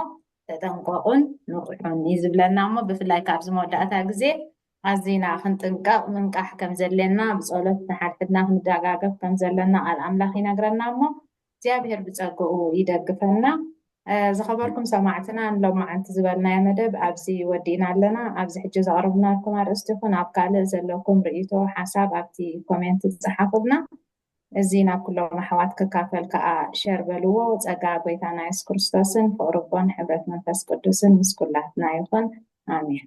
ተጠንቀቑን ንቑሑን እዩ ዝብለና እሞ ብፍላይ ካብዚ መወዳእታ ግዜ ኣዚና ክንጥንቀቕ ምንቃሕ ከም ዘድልየና ብጸሎት ንሓድሕድና ክንደጋገፍ ከም ዘሎና ቃል ኣምላኽ ይነግረና እሞ እግዚኣብሄር ብጸግኡ ይደግፈና። ዝኸበርኩም ሰማዕትና ንሎማዓንቲ ዝበልናዮ መደብ ኣብዚ ወዲእና ኣለና። ኣብዚ ሕጂ ዘቕርብናልኩም ኣርእስቲ ይኹን ኣብ ካልእ ዘለኩም ርእይቶ ሓሳብ ኣብቲ ኮሜንት ጸሓፉልና። እዚ ናብ ኩሎም ኣሕዋት ክካፈል ከኣ ሸር በልዎ። ጸጋ ጎይታና የሱስ ክርስቶስን ፍቕሪ ኣቦን ሕብረት መንፈስ ቅዱስን ምስ ኩላትና ይኹን ኣሜን።